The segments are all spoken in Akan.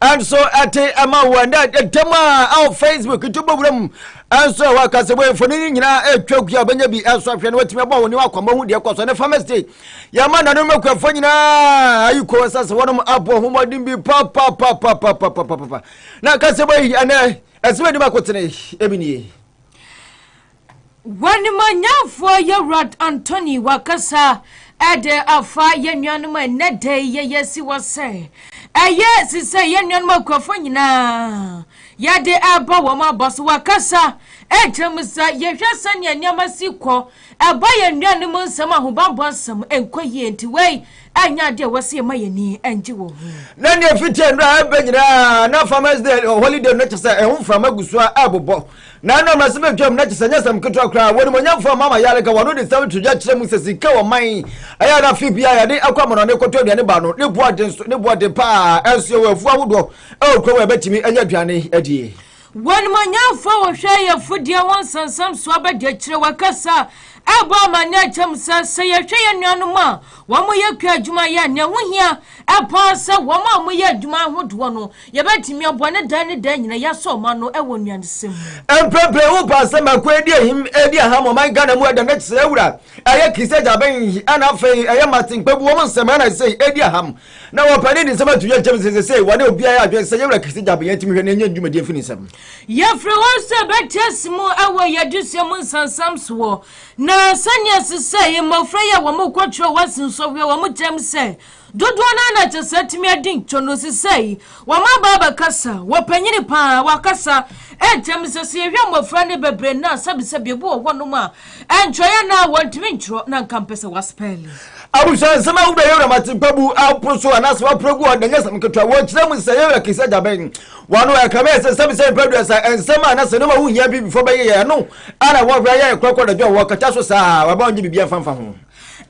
ɛnso ɛte ɛma wo ɛnɛ ɛda mu a ɛwɔ facebook nti bɔwura mu ɛnso ɛwɔ akasɛbɔ mfoni no nyinaa ɛtwa gua bɛnya bi ɛnso afei no watumi abɔ wo ne wakɔmmɔ ho deɛ kɔ so ne farmers day yɛma nanom akuafoɔ nyinaa ayi kɔ sɛ sɛ wɔnom abɔ ho mmɔden bi papapapapapapapa na akasɛbɔ yi ɛnɛ ɛsɛ bɛnim akotene ɛmi nie W'animuonyamfoɔ Yɛwurad Antoni w'akasa de afa yɛnuanom a ɛnnɛ da yi yɛyɛ si hɔ sɛ ɛyɛ si sɛ yɛnuanom akuafoɔ nyinaa yɛde ɛba wɔn aba so w'akasa ɛkyerɛ mu sɛ yɛhwɛ sɛnea nneɛma si kɔ ɛba yɛnuanom nsɛm ahobanbɔ nsɛm ɛnkɔ yie nti wei ɛnyɛ adeɛ a wɔsɛ yɛma yɛni ɛngye wɔ ho. Na nea ɛfiti nnora ɛbɛ nyinaa na farmers day holiday no kyɛ sɛ ɛho mframa gu so a ɛbobɔ Na ɛnam asɛm a atwam na kyerɛ sɛ ɛnyɛ asɛm ketewa koraa. Wɔ animuonyamfo a Mama Yare ka wɔn ho de nsɛm to dwa kyerɛ mu sɛ sika wɔ man yi a ɛyɛ a na afe biara yɛde kɔ amannɔne kɔtɔ aduane ba no, ne bo aden nso, ne bo aden paa nso. Yɛwɔ afuw ahodoɔ wɔ kurom a yɛbɛtumi anya aduane adie. Wɔ animuonyamfo a wɔhwɛ ayefodie ho nsɛnsɛm so abadiakyire wɔ kasa a ɛbɔ amanneɛ a ɛkyɛ mu sɛ, sɛ yɛhwɛ yɛn nuanom a wɔyɛ kua adwuma yɛ a, nea ɛho hia paa sɛ wɔn a wɔyɛ adwuma ahodoɔ no Yɛbɛtumi aboa na daa ne daa nyina yɛasɔ ɔman no wɔ nnuanesɛm mu. Mprempren wo paa sɛ ma ko edi ahim edi aham ɔman Ghana mu ɛda nɛkyi sɛ wura ɛyɛ Christie Gyabɛn yi ɛna afei ɛyɛ Martin Kpebu wɔn nsɛm ɛna ɛsei edi aham na wɔ pɛ ne ne nsɛm ato yɛ gyem sɛ sesei wɔne obiara yɛ adwene sɛ yɛwura Christie Gyabɛn yɛn tumi hwɛ na yɛnyɛ ne dwumadie mfi ne nsɛm. Yɛfrɛ wɔn sɛ bɛtease mu ɛwɔ yɛ adesua mu nsansam soɔ na sɛnea sesei mmɔfra yi a wɔn kɔ kyerɛ wɔ ase nsɔhwɛ wɔn kyɛm sɛ Dodoɔ no ara na ɛsɛ sɛ atumi adi ntɔ no sesɛi wɔ mmabaa bɛkasa, wɔ panyini paa wɔ akasa ntɛm sɛ sɛ yɛhwɛ mmɔfra no bebree nnɛ a sɛbesɛbe ebi wɔ hɔnom a ɛntwerɛ yɛ na wɔntumi ntwerɛ na nka mpɛ sɛ wɔaspɛɛle. Abusua nsɛm a wobɛyɛ wura ma tempa bu apo so anaasɛ wapra gu hɔ nnɛ nyɛ asɛm ketewa. Wɔkyerɛ mu sɛ yɛwura kɛse agya bɛn wa no ɛka mɛ sɛ sɛbesɛbe mpɛ aduasa nsɛm a anaasɛ nneɛma a wonhia Abibifoɔ bɛyeyɛ ɛno ara na wɔhwɛ yɛ korakora anadwo a wɔkata so saa a wɔaba ɔnyɛ biribiara mfa mfa ho.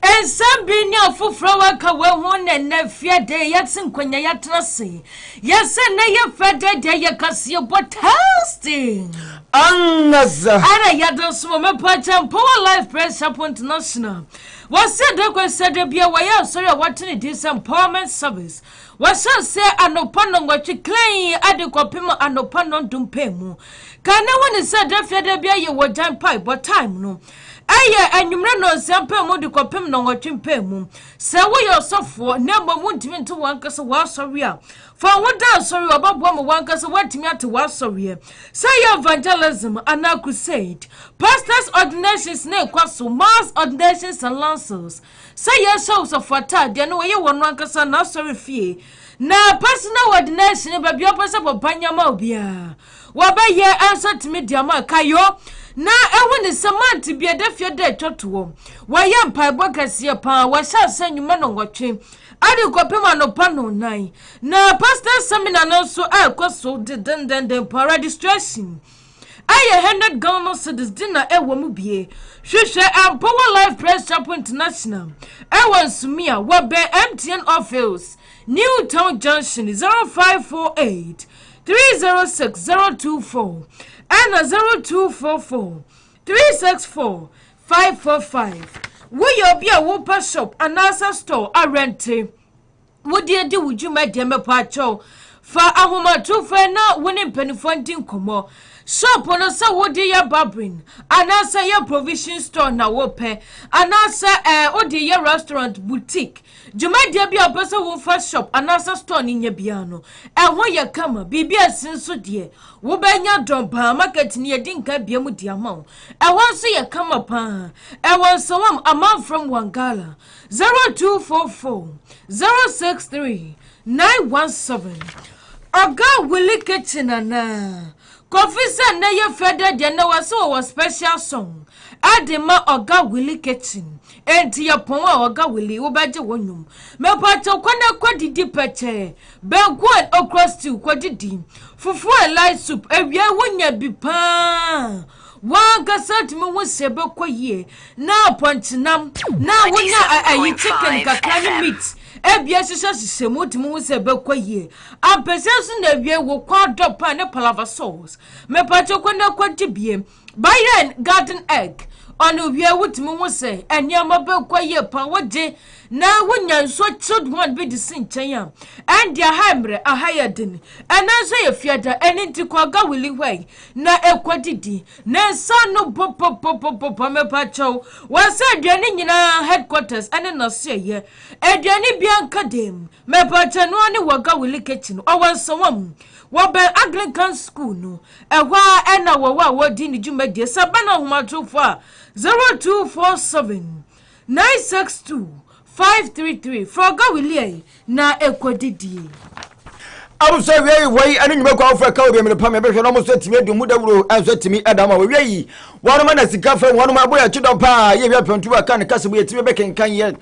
Nsɛm bi ne afoforo a wɔaka wɔ ho na ɛnɛ fia de yɛte nkonnwa yɛatena ase. Yɛsɛ nnɛ yɛ fɛ de deɛ yɛ kaseɛ bɔ testing. Angaza. Ɛna yɛde nso wɔ mepɔ kyɛ Mpowa Life Praise Chapel International. Wɔsɛ de kɔ sɛ da bia wɔyɛ asɔre a wɔte ne din sɛ Empowerment Service. Wɔhyɛ sɛ anɔpa nnɔnwɔtwe klɛn ade kɔpem anɔpa nnɔndumpɛ mu. Ka ne ho ne sɛ da fia da bia yɛ wɔ gyan paebɔ time no. Ɛyɛ anwummerɛ nnɔnsia mpaa mu de kɔpem nnɔnwɔtwe mpaa mu. Sɛ woyɛ ɔsɔfoɔ na mmom wontumi nte w'ankasa w'asɔre a, fa wo ho da asɔre a ɔbɛboa ma w'ankasa woatumi ate w'asɔreɛ. Sɛ ɛyɛ evangelism anaa crusade, pastors ordinations na ɛkɔ so, mass ordinations and lancels. Sɛ yɛhyɛ ɔsɔfo ataadeɛ na wɔyɛ wɔn ankasa n'asɔre fie na personal ordination baabi a wɔpɛ sɛ wɔba nyama obiara. Wɔbɛyɛ nso atumi de ama kayo na ehu ne sɛ mante bi ɛda fie da atwa toɔ. Wɔyɛ mpaebɔ kɛseɛ paa, wɔhyɛ ase anwumma nnɔnwɔtwe ɛde kɔpem anɔpa nnɔnnan. Na Pastors Seminar no nso ɛrekɔ so dendendenden paa, registration ɛyɛ hundred Ghana cedis de na ɛwɔ mu bie. Hwehwɛ Ampowa Life Praise Chapel International ɛwɔ Nsumia, wɔbɛn MTN office, New Town Junction, 0548. three zero six zero two four ɛna zero two four four three six four five four five woyɛ obi a wopɛ shop anaasɛ store awɛnte wode adi wo dwuma deɛ mɛpɔ akyɛw fa ahomatorofoɔ na wo ne mpanimfoɔ ndi nkɔmmɔ shop no sɛ wode yɛ babrin anaasɛ yɛ provision store na wopɛ anaasɛ ɛɛ eh, wode yɛ restaurant boutique Dwumadie bi a wopɛ sɛ wofa shop anaasɛ store no nya biara no, ɛho yɛ kama. Biribi a ɛsen so deɛ, wobɛnya Dɔn Baa Market no yɛdi nka abue mu de ama wo. Ɛhɔ nso yɛ kama pa ara. Ɛwɔ Nsawam, Amanfrem, Wangala. 0244 063 917. Oga Willy Kitchen anaa? Kofi sɛ nnɛ yɛ fɛ dɛ deɛ nnɛ wɔse wɔwɔ special song de ma Oga Willy Kitchen. Enti yɛpɔn a ɔga wili wobɛgye wo nnwom Mepatɔ kɔ na kɔ didi pɛkyɛɛ Banku and okra stew kɔ didi Fufu and light soup awiai wo nya bi paa W'ankasa tumi hu sɛ ɛbɛkɔ yie Na pɔnkye nam na wo nya ayi chicken kakra ne meat Abien hyehyɛ hyehyɛ mu wotumi hu sɛ ɛbɛkɔ yie Ampesi nso na awiai wo kɔ adɔ pan ne palava sauce Mepatɔ kɔ na kɔ di bie Byron Garden Egg, Ɔno wiɛ wotumi hu sɛ nneɛma bɛkɔ yie paa wogye na wonya nsuo chilled one bi de si nkyɛn a ɛnde aha mmerɛ aha yɛ den ɛno nso yɛ fiada ɛno nti kɔ aga wili hɔ yi na ɛkɔ didi ne nsa no bɔbɔbɔbɔbɔ mepa kyɛw wɔsɛ aduane nyinaa headquarters ɛne naseɛ yɛ aduane bi anka dem mepa kyɛ noa ne wɔ aga wili kitchen ɔwɔ nsawam wɔbɛn Anglican school no Ɛhɔ ara na wɔn a wɔredi ne dwumadie sɛ bɛn ahomatorofo a 0247 962 533 frɛ Ɔga Williai na ɛkɔdidie. Abusua awiei hɔ yi ne nnwuma kɔ awofo ɛka obi mmerepa me bɛhwɛ na ɔmo so atumi adi ɔmo dawuro nso atumi ɛda ɔmo a wɔwie yi wɔn ma na sika fam wɔn ma abo yɛ kyedɔ paa yɛ wia pɛntu a ka ne kasa mu yɛtumi bɛkenkan yɛ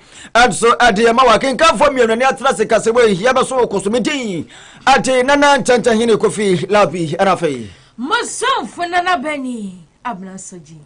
nso ɛde yɛ ma wɔ akenkanfoɔ mmienu ne atena se kasa mu ehia bɛso wɔ kɔsomedin Ade Nana Nkyɛnkyɛn Hene Kofi Labi ɛna afei. Mosomfo Nana Bani Abena Sogye.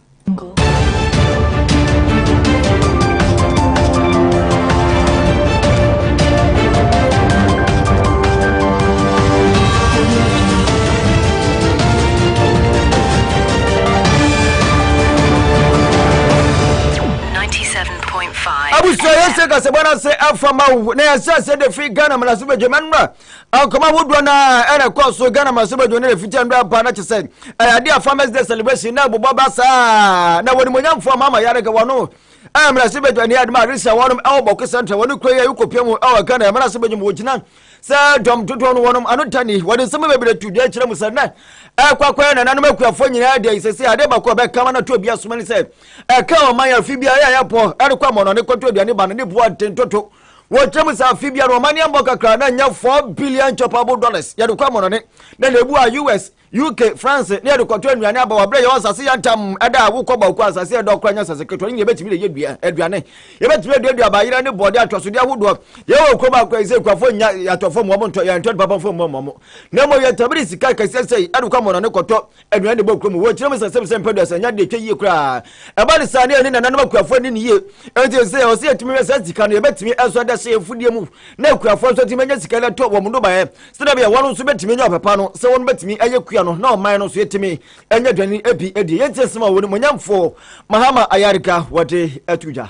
abusua yɛ sɛ kasabɔ no ase afa ma wo na yɛsɛ sɛ de fi ghana mmaraso badwa ma nnora akɔma ahodoɔ no a ɛna ɛkɔɔ so ghana mmaraso badwa no na fiti nnora apa na kyɛ sɛ ɛyɛ adeɛ a farmers day celebration na abobɔ ba saa na wɔnimonyamfoɔ ma ama yɛadaka wɔno mmaraso badwa ne adema aresa wɔnom ɛwɔ bɔko central wɔne kuro yɛ wokɔpia mu ɛwɔ ghana mmaraso badwa mu wɔgyina sɛ dɔm dodoɔ no wɔnom ano tani wɔde nsɛm bebree to dua kyerɛ mu sɛ nnɛ ɛkɔakɔɛ nananom akuafoɔ nyinaa deɛ sɛ sɛ adeɛ baako a bɛkama no to obi asoma ne sɛ ɛka ɔman a afe biara yɛayɛ pɔ ɛrekɔ amɔnɔ ne kɔtɔ aduane ba no ne boɔ nten toto wɔkyerɛ mu sɛ afe biara ɔman yɛmmɔ kakra na nyɛ 4 billion chopable dollars yɛde kɔ amɔnɔne na na ebu a us uk france ne yɛde kɔtɔ nnuane aba wɔbrɛ yɛwɔ asase yɛ ntam ɛda a wokɔ baako asase yɛ dɔ kora nyɛ asase ketewa no ne yɛbɛtumi de yɛ dua aduane yɛbɛtumi aduadua abayerɛ ne bɔɔde atwasodeɛ ahodoɔ yɛwɔ kurom akɔ yi sɛ kuafoɔ nya yɛatɔ fam wɔn ntɔ yɛntɔ nipa bɔmfoɔ mmɔ mmɔ na mmɔ yɛtabiri sika kɛseɛ sɛ ɛde kɔ amɔnɔne kɔtɔ aduane de bɔ kurom wɔ nkyerɛmu sɛ sɛm sɛ mpɛ duasa nya de atwa yie koraa ɛba ne saa ne ɛne nananom akuafoɔ ne ne yie ɛnti sɛ ɔsɛ yɛtumi hwɛ saa sika no yɛbɛtumi ɛso ada hyɛ yɛfudeɛ mu na akuafoɔ nso atumi anya sika no atɔ wɔn nnobaeɛ sɛdɛ bɛyɛ wɔn nso bɛtumi anya ɔpapa no sɛ wɔn bɛtumi ɛyɛ kua no na ɔman no nso yɛtumi ɛnya aduane ɛbi ɛdi yɛnti asɛm a wɔn mu nyamfoɔ mahama ayareka wɔde ato dwa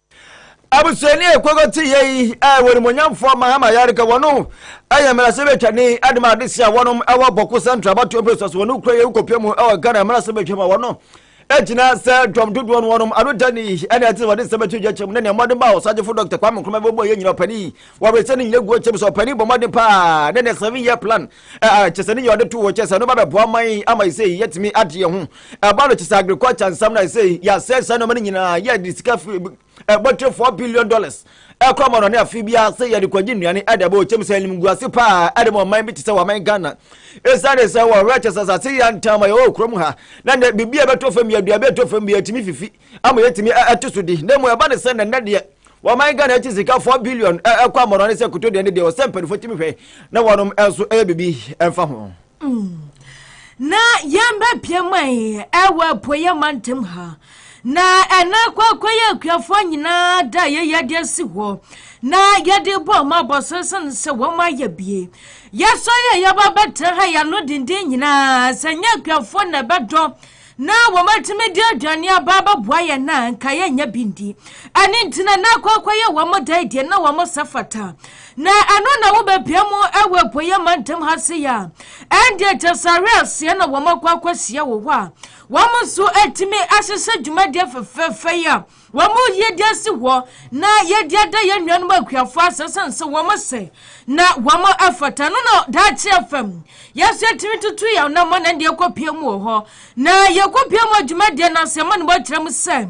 Abusuani a ɛkɔkɔ te yɛ yi a ɛwɔ nimonyamfoɔ Mahama Yarika wɔ no yɛ mmarasɛbɛtwani de ma adesi a wɔnom wɔ Bɔko Central abatoɔ mpɛsua so wɔ no kura yɛ wokɔpia mu wɔ Ghana mmarasɛbɛtwa mu a wɔno gyina sɛ dɔm dodoɔ no wɔnom ano da ni ɛne ɛte sɛ wɔde nsɛm ato gya kyɛm ne nea mmɔden ba wɔ sagyefo Dr. Kwame Nkrumah bɛbɔ yɛ nyina ɔpani wɔbɛsɛ ne nyina guo kyɛm sɛ ɔpani bɔ mmɔden paa ne ne seven year plan Ɛɛ, kyɛ sɛ ne nyɛ ɔde to hɔ, kyɛ sɛ ɛno ba bɛboa man yi ama ɛsɛ yi yɛtumi ade yɛn ho. Ɛba no kyɛ sɛ agriculture nsɛm no ɛsɛ yi yɛasɛe saa nneɛma no nyinaa yɛde sika firi ɛbɔtire four billion dollars ɛkɔ ama no ne afe biara sɛ yɛde kɔgye nnuane ɛde ɛbɔ ɔkyɛm sɛ anim gu ase paa ɛde ma ɔman bi te sɛ wɔ aman Ghana ɛsiane sɛ wɔhwɛ kyɛ sɛ asase yɛ ntam a yɛwɔ kurom ha na nɛ biribi a ɛbɛtɔ fam yɛ aduaba ɛtɔ fam bi yɛtumi fifi ama yɛtumi ɛto so di na mu ɛba ne sɛ nɛnɛ deɛ Wɔman Ghana akyi sika four billion ɛkɔ amɔnɔ ne sɛ koto deɛ ne deɛ ɔsɛ mpanimfoɔ tumi hwɛ na wɔnom nso ɛyɛ biribi ɛmfa ho. Mm. Na yɛn bɛbia man ɛwɔ apueɛ mantam ha na ɛna kwakwa yɛ akuafoɔ nyinaa da yɛyɛ de asi hɔ na yɛde bɔ ɔmo abɔso sene sɛ wɔn ayɛ bie yɛsɔre a yɛba bɛtena ha yɛano denden nyinaa sɛ nyɛ akuafoɔ na ɛbɛdɔ e Ná wɔatumi de aduane aba abɛboa yɛn na anka yɛnyɛ bi ndi. Ɛno nti na na akɔ akɔyɛ wɔn dae deɛ na wɔn nsa fata. Na ɛno na wobɛpia mu wɔ apueeɛ mantam ha se yɛ a, ɛndeɛ Gyasare aseɛ na wɔn akɔ akɔhyia wɔ hɔ a wɔn nso atumi ahyehyɛ dwumadie fɛfɛɛfɛ yi a Wɔn mu yɛde asi hɔ na yɛde ada yɛn nuanom akuafoɔ ase sɛn sɛ wɔn sɛ na wɔn afata no na daakye afam yɛso yɛtumi tutu yɛn na mɔ na deɛ kɔpie mu wɔ hɔ na yɛkɔpie mu adwuma deɛ na sɛ mɔne bɔkyerɛ mu sɛ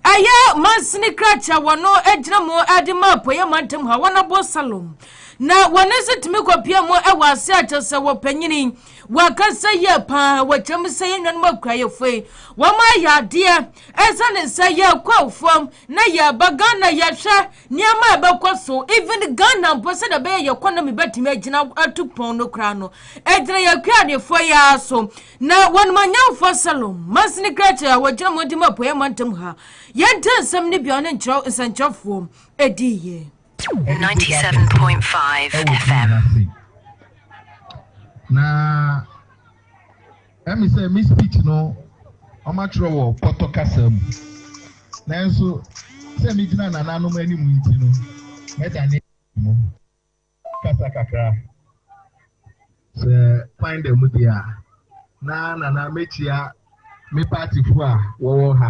ɛyɛ mansini krakyɛ wɔn agyina mu ade ma apɔyɛ mantam ha wɔn abɔ salom na wɔn nso tumi kɔpie mu ɛwɔ ase akyɛ sɛ wɔpanyini wɔakasa yie paa wɔkyerɛ mu sɛ yɛn nuanom akuayɛfoɔ yi wɔn ayɛ adeɛ Ɛsiane sɛ yɛkɔ afuom na yɛba Ghana yɛhwɛ nneɛma a ɛbɛkɔ so even Ghana mpo sɛdeɛ ɛbɛyɛ yɛkɔ na mebɛtumi agyina atu pɔn no koraa no ɛgyina yɛn Kuadefoɔ yi ara so na wɔn manyamfoɔ Salom Mansini Krakyɛ a wɔgyina Montem Apueɛ mantam ha yɛnte nsɛm no bi a ɔne nkyerɛw nsɛnkyerɛfoɔ ɛdiiɛ. 97.5 FM. Na Ɛyɛ me sɛ me speech no wɔatwerɛ wɔ Pɔtɔ kasa mu, nanso sɛ megyina nananom anim nti no, mɛdane mu kasa kakra. Sɛ kwan da mu deɛ a, na nana mɛkyia me partyfoɔ a wɔwɔ ha.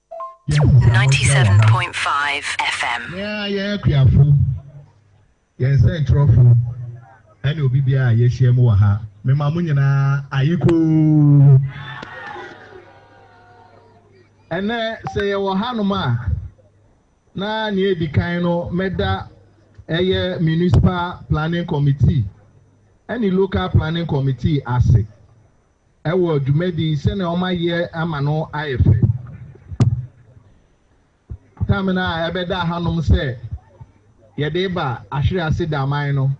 97.5 FM. Yɛn a yɛyɛ akuafo, yɛn sɛnkyerɛwfo, ɛne obi biara a yɛahyia mu wɔ ha, mema mo nyinaa ayekoo. Ɛnɛ sɛ yɛwɔ hanom a, na nea edi kan no mɛda ɛyɛ Municipal Planning Committee ɛne Local Planning Committee ase. wɔ dwumadi sɛnea wɔayɛ ama no ayɛ fɛ. Tam no a ɛbɛda hanom sɛ yɛde reba Ahwere ase Daman no,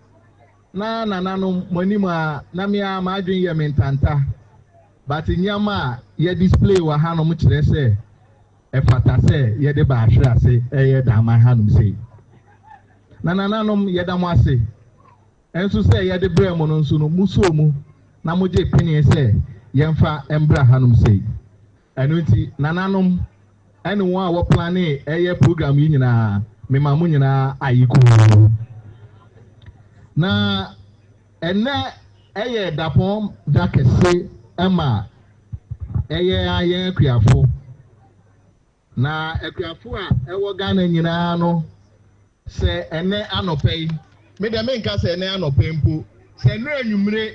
na nananom mo anim a na me ara m'adwene yɛ me ntanta, but nneɛma a yɛ display wɔ hanom kyerɛ sɛ ɛfata sɛ yɛde ba Ahwere ase ɛyɛ Daman hanom sei. Na nananom yɛda mo ase. Nso sɛ yɛde brɛɛ mo no nso no, mosoo mu na mogyee penee sɛ yɛmfa mbra hanom sei. Ɛno nti, nananom ɛne wɔn a wɔplanee ɛyɛ program yi nyinaa, mema mo nyinaa aye kuu. Na ɛnnɛ ɛyɛ dapɔn da kɛse ɛma ɛyɛ ara yɛn akuafo. Na akuafo a ɛwɔ Ghana nyinaa no, sɛ ɛnnɛ anɔpa yi, me deɛ menka sɛ ɛnnɛ anɔpa yi mpo, sɛ ɛnnɛ anwummere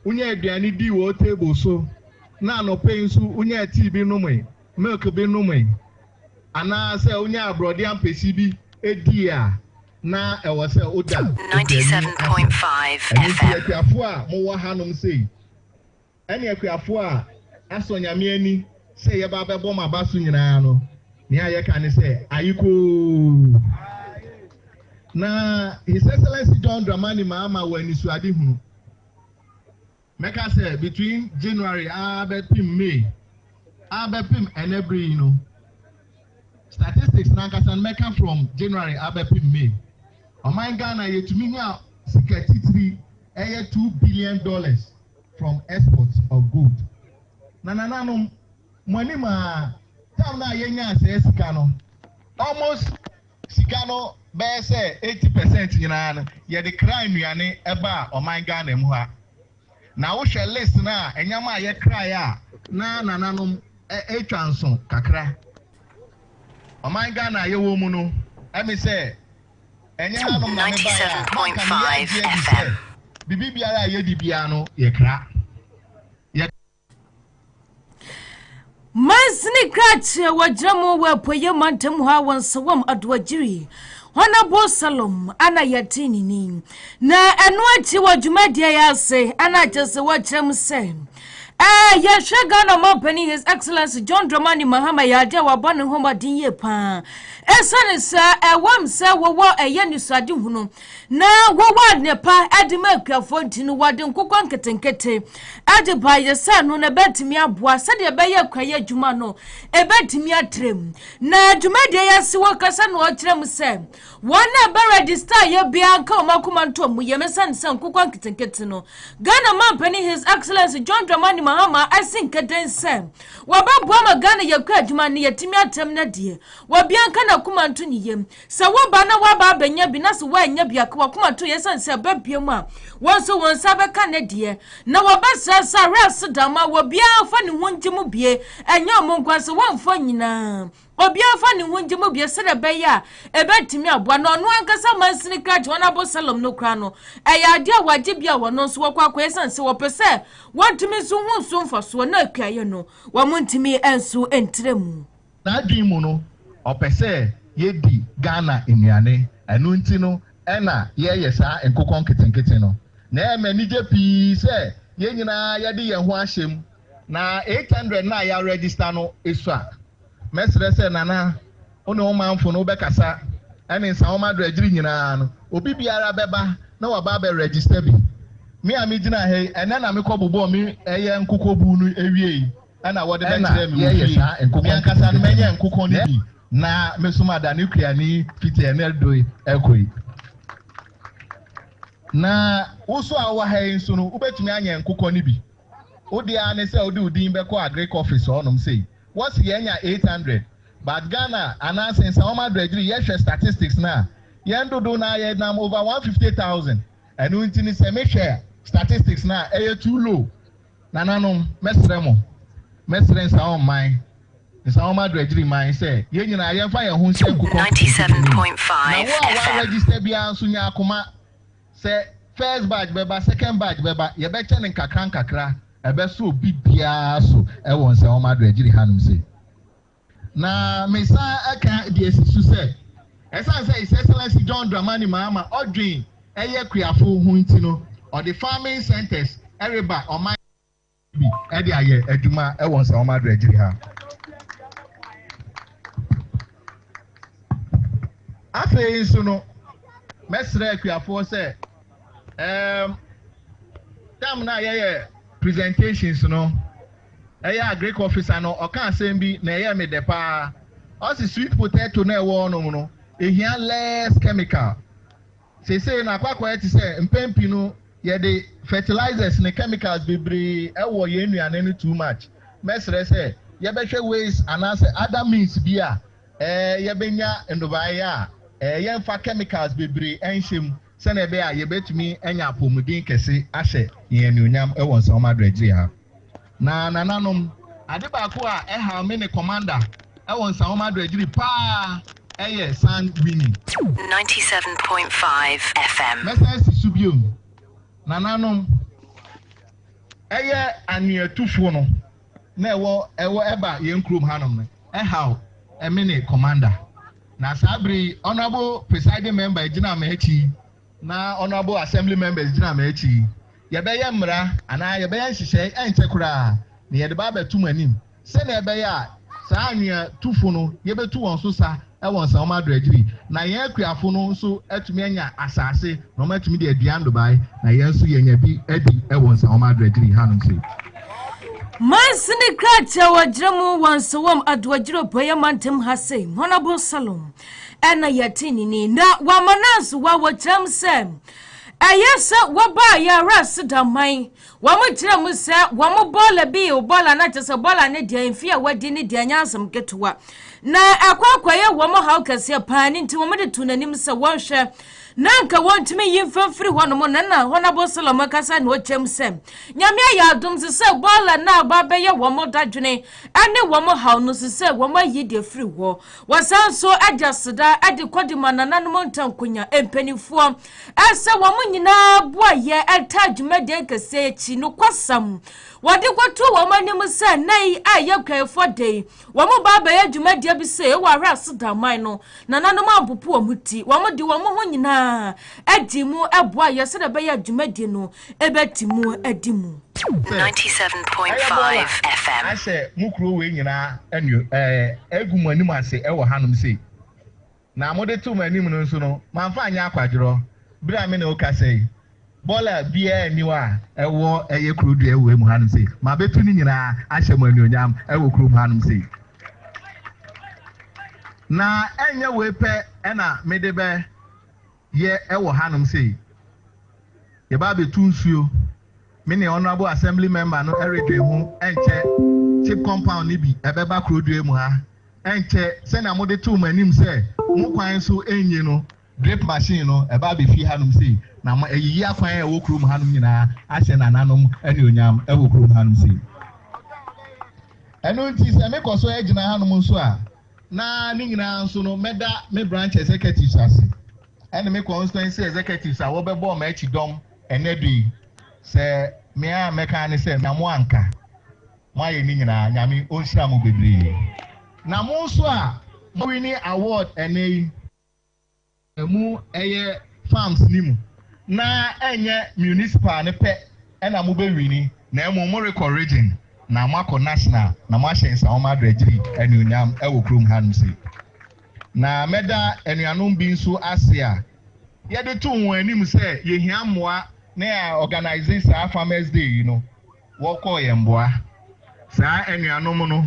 wonya aduane dii wɔ wo table so, na anɔpa yi nso wonyaa tea bi nomee, milk bi nomee, anaasɛ wonyaa aborɔdeɛ ampesi bi dii a, na ɛwɔ sɛ woda Ɔkra ni ase. Ɛno nti akuafo a mowɔ hanom sei, ɛne akuafoɔ a asɔ Nyame ani sɛ yɛba abɛbɔ mo aba so nyinaa no, nea yɛka ne sɛ, Ayekoo! Na His Excellency John Dramani Mahama wɔ anisoade hunu. Mɛka sɛ between January ara bɛpem May ara bɛpem ɛnɛ bere yi no, statistics n'ankasa no mɛka from January ara bɛpem May, ɔman Ghana yɛtumi nyaa sika titiri ɛyɛ two billion dollars from export of gold na nananom mo anim aa time no a yɛnyaa saa sika no almost sika no bɛyɛ sɛ eighty percent nyinaa no yɛde kraa nnuane ɛbaa ɔman Ghana mu ha na wo hwɛ list no a ɛnyɛma a yɛkraeɛ a na nananom ɛtwa nso kakra ɔman Ghana a yɛwɔ mu no ɛme sɛ Ɛnyɛ hanom na mebaeɛ a, na anka meyɛ agye adi sɛ biribiara a yɛdi biara no yɛ kra. Yɛ. Mansini Krakye a wɔgyina mu wɔ apueeɛ mantam hɔ a wɔn nsawam Adoagyiri Honourable Salom ana yɛte ne ni. Na ɛno akyi wɔ dwumadie yi ase ana kyerɛ sɛ wɔkyerɛ mu sɛ Eh, yɛnhwɛ Ghana man panin His Excellency John Dramani Mahama yɛ adeɛ a wabɔ ne ho mmɔden yie paa. Ɛsiane sɛ ɛwam sɛ wɔwɔ ɛyɛ nisrade hunu na wɔwɔ adepa de ma akuafoɔ nti no, wɔde nkokɔ nketenkete de baeɛ sɛ no na ɛbɛtumi aboa sɛdeɛ ɛbɛyɛ kwaeɛ adwuma no ɛbɛtumi atrɛm. Na dwumadie yi ase wɔkasa na ɔkyerɛ mu sɛ Wɔn a ɛbɛ register yɛ biara nka wɔn akoma ntom mu yɛ me sane sɛ nkokwa nketenkete no. Ghana Manpanin His Excellency John Dramani Mahama asi nkaden sɛ wɔbɛboa ma Ghana yɛ kura adwuma no yɛtumi atɛm na deɛ wɔbia nka n'akoma nto ne yam sɛ woba na woaba abɛnya bi na sɛ woannya bi aka wakoma to yɛ sane sɛ ɛbɛ bia mu a wɔn nso wɔn nsa bɛka ne deɛ na wɔbɛsrɛ sɛ awerɛ ase dama wɔ biara fa ne ho ngye mu bie ɛnyɛ ɔmo nko sɛ wɔmfa nyinaa Obiara mfa ne ho ngye mu bio sɛdeɛ ɛbɛyɛ a ɛbɛtumi aboa na ɔno ankasa mansini kra John Absalom no kora no, ɛyɛ adeɛ a wɔagye bi a wɔn nso wɔkɔ akɔyɛ ɛsiane sɛ wɔpɛ sɛ wɔntumi nso ho nso mfasoɔ na akuayɛ no wɔn ntumi nso ntra mu. N'adwene mu no, ɔpɛ sɛ yɛdi Ghana nnuane, ɛno nti no na yɛreyɛ saa nkokɔ nketenkete no. Na ɛyɛ me anigye pii sɛ yɛn nyinaa yɛde yɛn ho ahyɛ mu na 800 no a yɛaregister no sua. Mɛsrɛ sɛ Nana, wo ne wo manfo no wobɛkasa ne nsawɔma adragyiri nyinaa no. Obi biara bɛba na waba abɛ register bi. Me a megyina ha yi, ɛnnɛ na mekɔ bobɔɔ me ɛyɛ nkokɔ buu no wiei na wɔde bɛkyerɛɛ me wɔ fie. Me ankasa no mɛnyɛ nkokɔ no bi na mɛsom adane kuani fiti ɛnnɛ rekɔ yi. Na wo nso a wowɔ ha yi nso no, wobɛtumi anyɛ nkokɔ no bi. Wo deɛ ara ne sɛ wode wo din bɛkɔ Agric office hɔnom sei. Wɔse yɛanya eight hundred but Ghana anaa Sensaom Adragiri yɛhwɛ statistics no a, yɛn dodow no ara yɛnam over one fifty thousand. Ɛno nti no sɛ mehwɛ statistics no a ɛyɛ too low. Nananom, mɛsrɛ mo, mɛsrɛ Nsaom man, Nsaom Adragiri man sɛ yɛn nyinaa yɛmfa yɛn ho nhyɛ nkokɔ nketenkete no mu. Na wo a woaregister biara nso nya akoma. Sɛ first batch bɛba, second batch bɛba, yɛbɛkyɛ no nkakrankakra. Ɛbɛso obi biara so wɔ nsɛnwoma adoagyiri hanom sei. Na mesan ka de asi so sɛ, ɛsiane sɛ His Excellency John Dramani Mahama ɔdwen yɛ Kuafo ho nti no, ɔde farming centres reba ɔman. bi de ayɛ adwuma wɔ nsawam awerɛgyeri ha. Afei nso no, mɛsrɛ akuafoɔ sɛ um, tam no a yɛyɛ presentations no, ɛyɛ a Greek officer no ɔka asɛm bi na ɛyɛ me dɛ paa. Ɔsi sweet potato na ɛwɔ hɔnom no, ehia less chemical. Seesei no, akwakoraa te sɛ mpɛn pii no yɛde fertilizers ne chemicals bebree wɔ yɛn nnuane no too much. Mɛsrɛ sɛ yɛbɛhwɛ ways anaasɛ other means bi a yɛbɛnya nnɔbaeɛ a yɛmfa chemicals bebree nhyɛ mu sɛdeɛ ɛbɛyɛ a yɛbɛtumi anya apɔmuden kɛse ahyɛ yɛn anuonyam wɔ nsamoma adoagyire ha. Na nananom, ade baako a ɛhaw me ne Commander wɔ nsawoma adragyiri paa yɛ San Winnie. 97.5 FM. Mɛsan asi so bio, nananom, ɛyɛ anweatufoɔ no na ɛwɔ ɛwɔ ɛba yɛn kurom hanom no ɛhaw me ne Commander. Na saa bere yi Honourable Presiding Member a ɛgyina m'akyi yi Na honourable assembly members gyina m'akyi yi, yɛbɛyɛ mmara anaa yɛbɛyɛ nhyehyɛe ɛnkyɛ koraa na yɛde ba abɛto mo anim sɛnea ɛbɛyɛ a saa anwea tufo no yɛbɛtu wɔn so sa wɔ nsawoma adoagyiri na yɛn akuafo no nso atumi anya asase na wɔatumi de adua nnobae na yɛn nso yɛanya bi adi wɔ nsawoma adoagyiri hanom sei. Manso ne krataa wɔ gyerɛ mu wɔ nsawom adoagyiri ɔpɔeɛ mantam ha sei, honourable Salom. ɛna yɛte ne ni na wama no ansowa wɔ gyina mu sɛ ɛyɛ sɛ wɔbaa yɛara ase da man wɔn gyina mu sɛ wɔn bɔɔla bi bɔɔla no kyɛ sɛ bɔɔla no deɛ mfe a wadi ne deɛ nyɛ asɛm ketewa na ɛkɔ akɔyɛ wɔn haw kɛseɛ paa ne nti wɔn de to n'anim sɛ wɔnhwɛ na nka wɔntumi yi mfa mfiri hɔnom na na hɔn abɔsɛlɛm akasa na ɔkyɛm sɛ nyame ayɛ adom se sɛ bɔɔla no aba bɛyɛ wɔn dadwene ne wɔn haw no so sɛ wɔn ayi deɛ firi hɔ Wɔsan nso de aseda de kɔdi ma nananom ntankonya mpanimfoɔ sɛ wɔn nyinaa boayɛ taa dwumadie nkɛseɛ akyi nokwasɛm wɔde kɔto wɔn anim sɛ nna yi a ɛyɛ kwaefoɔ da yi wɔn ba abɛyɛ dwumadie bi sɛ ɛwɔ ahwɛ ase da aman no nananom ampopo wɔn ti wɔn de wɔn ho nyinaa adi mu boayɛ sɛdeɛ ɛbɛyɛ dwumadie no ɛbɛte mu adi mu. Sɛ, Ɛyɛ mo ara, ahyɛ mo kuro wei nyinaa anio, ɛɛ, agu mo anim ase wɔ hanom sei. Na mode too m'anim no nso no, mamfa anyɛ akwadworɔ, berɛ a me ne wo kasa yi. Bɔla biara nni hɔ a ɛwɔ, ɛyɛ kuro dua wɔ wei mu hanom sei. Mabɛtu ne nyinaa ahyɛ mo anuonyam wɔ kurom hanom sei. Na ɛnyɛ wei pɛ na mede bɛ. yɛ ɛwɔ hanom sei. Yɛba abɛtu nsuo. Me ne Honourable Assembly Member no ɛredwen ho ɛnkyɛ Chip Compound no bi ɛbɛba Kurodua mu ha ɛnkyɛ. Sɛnea mode too mo anim sɛ mo kwan so ɛnyi no, drip machine no ɛba abɛfie hanom sei na mo ayiyi akwan a ɛwɔ kurom hanom nyinaa ahyɛ nananom anuonyam ɛwɔ kurom hanom sei. Ɛno nti sɛ mekɔ so ɛgyina hanom nso a, Na ne nyinaa nso no, mɛda me branch executives ase ne me constituency executives a wɔbɛbɔɔ me akyidɔm ɛnnɛ da yi sɛ me a mɛka ara ne sɛ na mo anka. Moayɛ ne nyinaa. Nyame ɔnhyira mo bebree. Na mo nso a mo winni award ɛnnɛ yi. mu ɛyɛ farms no mu na ɛnyɛ municipal no pɛ na mo bɛ wini na ɛmom mo rekɔ region na mo akɔ national na mo ahyɛ nsawoma adragyiri anuonyam ɛwɔ kurom ha nom sei na mɛda anuanom bi nso ase a yɛde too wɔn anim sɛ yɛhia mmoa na yɛ organize saa farmers day yi no wɔkɔɔ yɛn mmoa saa anuanom no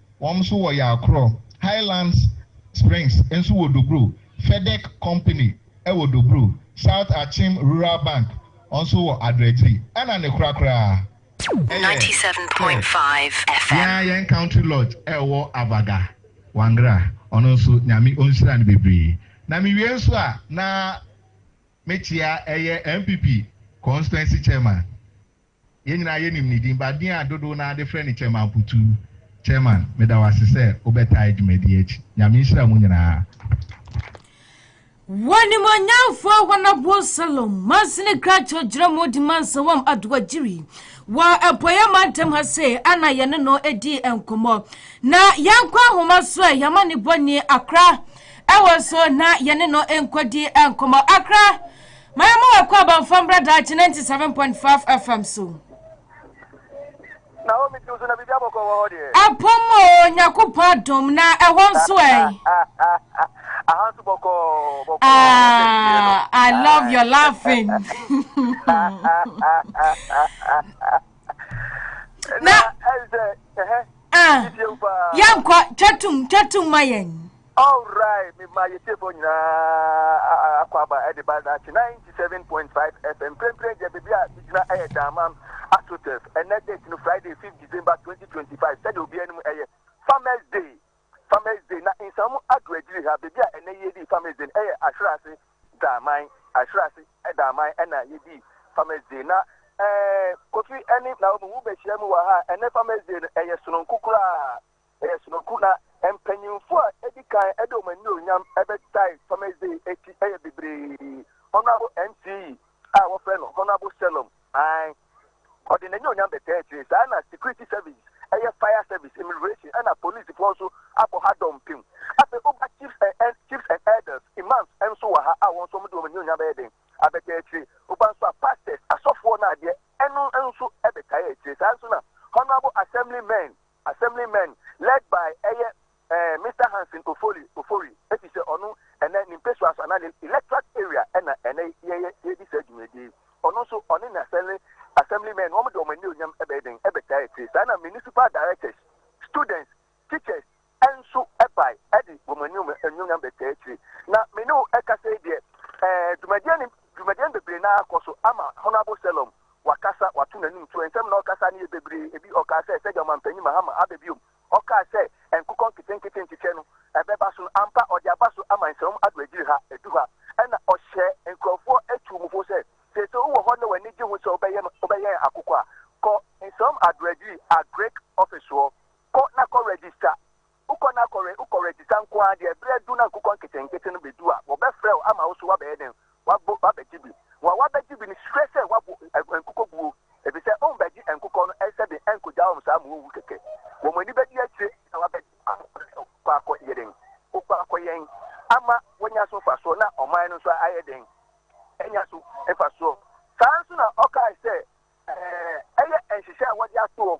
Wɔn nso wɔ Yakrɔ. Highlands Springs nso wɔ Dobro. Fedec Company wɔ Dobro. South Akyem Rural Bank nso wɔ Adradzi. Ɛna ne kora koraa ɛyɛ sɛ yɛn ara yɛn Country Lodge a ɛwɔ Avaga, Wangra. Ɔno nso Nyame ɔnhyira no bebree. Na me wie nso a na me kyea ɛyɛ NPP Constituency Chairman. Yɛn nyinaa yɛnim ne din, but din a dodow no ara de frɛ no Chairman Putuu. Chairman, meda wo ase sɛ wobɛtae dwumadi yi akyi. Nyame nhyira mo nyinaa. W'animuonyamfoɔ Ahwanabuo Salom Mansini Krakyɛ gyina mu di Mansa Wam Adowa Gyiri wɔ Apueeɛ Mantam ha sei ɛna yɛne no di nkɔmmɔ. Na yɛnkɔ ahoma so ɛ, yɛma ne bɔ nie Akra ɛwɔ so na yɛne no nkɔdi nkɔmmɔ. Akra, Ma yɛmma wo akwaaba mfa mmra daakye 97.5 FM so. Na omi tiw so na biribi abɔkɔ wɔ hɔ deɛ. Apɔm o Nyakopɔn adom na ɛhɔ nso ɛ. Aha nso bɔkɔ bɔkɔ. Ah, I love your laughing. Na ɛyɛ sɛ ɛhɛ. Ah, yɛnkɔ twatum twatum ma yɛn. Alright mema yɛ tiefoɔ nyinaa akwaaba de ba daakye 97.5 FM mprempren deɛ baabi a megyina ɛyɛ Daamam Asotef ɛnɛ date no Friday 5 December 2025 sɛdeɛ obi anim ɛyɛ Farmers Day Farmers Day na nsamu ado agyiri ha baabi a ɛnɛ yɛdi Farmers Day no ɛyɛ Ahwerase Daaman Ahwerase Daaman ɛna yɛdi Farmers Day na ɛɛ Kofi ɛne Naomi wobɛhyia mu wɔ ha ɛnɛ Farmers Day no ɛyɛ sononko koraa Ɛyɛ sonoku na mpanyimfo a edi kan de wɔn anuonyam bɛdae Thomas Day akyi yɛ bebree. Honourable NCE a wɔfrɛ no Honourable Shalom Aang, ɔde n'anuonyam bɛtaa akyire. Saa ara na security service, ɛyɛ fire service, immigration ɛna polisifo nso abɔ ha dɔmpem. Afei woba chiefs and and chiefs and elders, imams nso wɔ ha a wɔn nso wɔde wɔn anuonyam bɛyɛ dɛn? Abɛtaa akyire. Woba nso a pastors, asɔfoɔ no adeɛ, ɛno nso bɛtaa akyire. Saa ara nso na Honourable Assembly men, Assemblymen led by ɛyɛ eh, Mister Hanson Ofori, Ofori, efisɛ ɔno ɛnɛ ne mpesua so anaa ne electorate area ɛna ɛnɛ yɛyɛ yɛredi saa dwumadie yi. Ɔno nso ɔne ne assembly assemblymen wɔn de wɔn anuonyam ɛbɛyɛ dɛn ɛbɛtaa akyire. Saa na municipal directors, students, teachers ɛnso ɛbae ɛde wɔn anuom anuonyam bɛtaa akyire. Na me ne wo ɛkasa yi deɛ eh, dwumadie ne dwumadie no bebree naa kɔ so ama Honourable Selom. wakasa, wato n'anim tuo. Nsɛm na ɔkasae no yɛ bebree. Ebi ɔkaa sɛ, sɛdeɛ Ɔmanpanyin Mahama aba biom, ɔkaa sɛ nkokɔ nketenkete nkyekyɛ no, ɛbɛba so no, ampa ɔde aba so ama nsɛmam ado akyiri ha, ɛdu ha. Ɛna ɔhyɛɛ nkurɔfoɔ tuu mu fo sɛ, seesei wowɔ hɔ na w'ani gye ho sɛ wobɛyɛ ma wobɛyɛn akokɔ a, kɔ nsɛmam ado akyiri, Agric, ɔfisoɔ, kɔ na kɔ register. Ukɔ na kɔre, ukɔ redzidza nko ara deɛ, berɛ adu na nkokɔ nketsenketse no bɛdu a, wɔbɛfrɛ wo ama wo nso woabɛyɛ dɛn? Woabo, woabɛgye bi. Wɔn a wɔabɛgye bi no hwɛ sɛ wɔabo ɛ, nkokɔ buo, efisɛ wɔbɛgye nkokɔ no ɛnsɛ den ɛnkɔgyaa wɔn saa ma wɔnwu kɛkɛ. Wɔn ani bɛdi akyire na wɔabɛgye wɔn ano sɛ wokɔ akɔ yɛ dɛn? Wokɔ akɔ yɛn ama wɔanya so mfasoɔ na ɔman no nso ayɛ dɛn? Anya so mfasoɔ. Saa ara nso na ɔkaae sɛ, Ɛɛ, ɛyɛ nhyehyɛe a wɔde ato hɔ.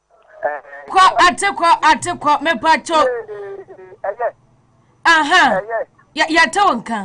Kɔ ate kɔ ate kɔ mepa kyɛw. Ɛyɛ. Aha. Ɛyɛ. Yɛ yɛte wo nka.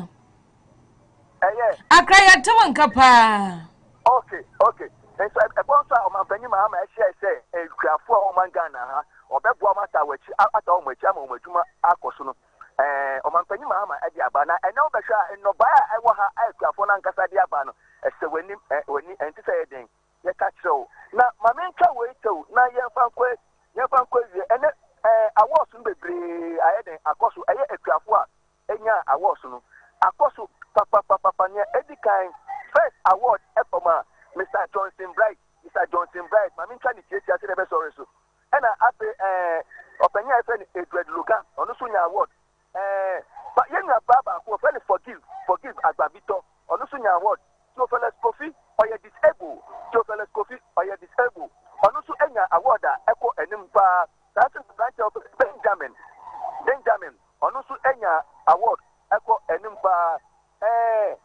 Ɛyɛ. Akra yɛte wo nka paa. Okay okay. Nso ɛkɔ nso a ɔmanpanyin ma ama ɛhyɛ sɛ nkuafo a wɔn Ghana ha ɔbɛboa wɔn ata wɔn akyi ata wɔn akyi ama wɔn adwuma akɔ so no ɛɛ ɔmanpanyin ma ama ɛde aba na ɛnɛ wɔbɛhwɛ a nnɔbae a ɛwɔ ha a nkuafo no ankasa de aba no ɛsɛ wɔn anim ɛ wɔn ani ɛnti sɛ ɛyɛ den. Yɛka kyerɛ wo, na ma mentwa wei kyɛw na yɛmfa nkɔ a, yɛmfa nkɔ awie. Ɛnnɛ, ɛɛ, awards no bebree ayɛ dɛn akɔ so? Ɛyɛ akuafo a enyaa awards no. Akɔ so papapapapa. Nea edi kan, first award kɔmaa Mister Johnson Bright, Mister Johnson Bright, ma mentwa ne tiatia sɛnea ɛbɛsɔre so. Ɛnna afei, ɛɛ, ɔpanyin a yɛfrɛ no Edward Logan, ɔno nso nyaa award. Ba, yɛn nua baa baako wɔfrɛ no Forgive, Forgive Agbabi-Tɔ, ɔno nso nyaa award. Theophilus Kofi, ɔyɛ disabled, Theophilus Kofi, ɔyɛ disabled, ɔno nso nyaa award a ɛkɔ anim paa. Saa nso na aberanteɛ a wɔfrɛ no Benjamin, Benjamin, ɔno nso nyaa award ɛkɔ anim paa. Ɛɛ,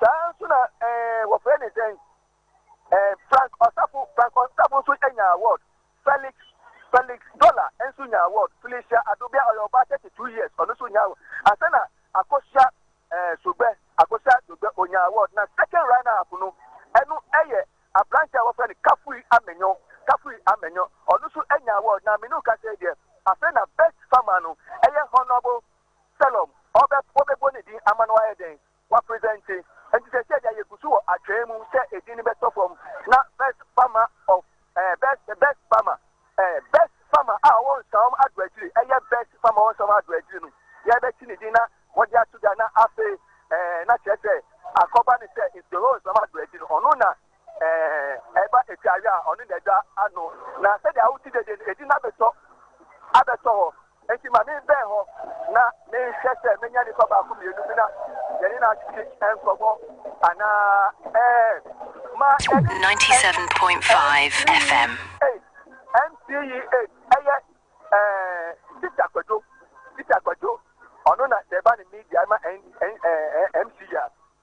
saa nso na ɛɛ wɔfrɛ no sɛn? Eh, Frank Ɔsafo, Frank Ɔsafo nso nyaa award. Felix, Felix Dollar nso nyaa award. Felicia Adobia, ɔyɛ ɔbaa 32 years, ɔno nso nyaa award. Ansa na Akosua eh, Sogbɛ, Akosua Sogbɛ, ɔnyaa award. Na second runner up no, ɛno yɛ aberanteɛ a wɔfrɛ no Kafui Amenyo, Kafui Amenyo, ɔno nso nyaa award. Na me ne wo kasa yi deɛ, afei na best farmer no yɛ Honourable Selom, ɔbɛ, wɔbɛbɔ ne din ama no ayɛ dɛn? wɔapresɛnte. Enti seesei deɛ yɛgu so wɔ atwɛn mu sɛ edin no bɛtɔ fam na Best Farmer of eh, Best, the Best Farmer, eh, Best Farmer a ɔwɔ Nsawam Ado Akyiri, ɛyɛ Best Farmer a ɔwɔ Nsawam Ado Akyiri no, yɛbɛte ne din na wɔde ato dwa na afei eh, na kyerɛ sɛ akɔba ne sɛ Inspirons Nsawam Ado Akyiri no, ɔno na Ɛɛ, ɛba atiawe a, ɔno na agya ano, na sɛdeɛ awote dede no, edi no abɛtɔ abɛtɔ hɔ. Enti ma menbɛn hɔ na menhwɛ sɛ menya nnipa baako mmienu bi na yɛne no atwetwe nkɔmmɔ anaa. Ɛɛ, ma yɛne no nkɔ. Ei, NCEA, ɛyɛ, ɛɛ, Teacher Kwadwo, Teacher Kwadwo, ɔno na sɛ ɛba ne media ma NCEA a,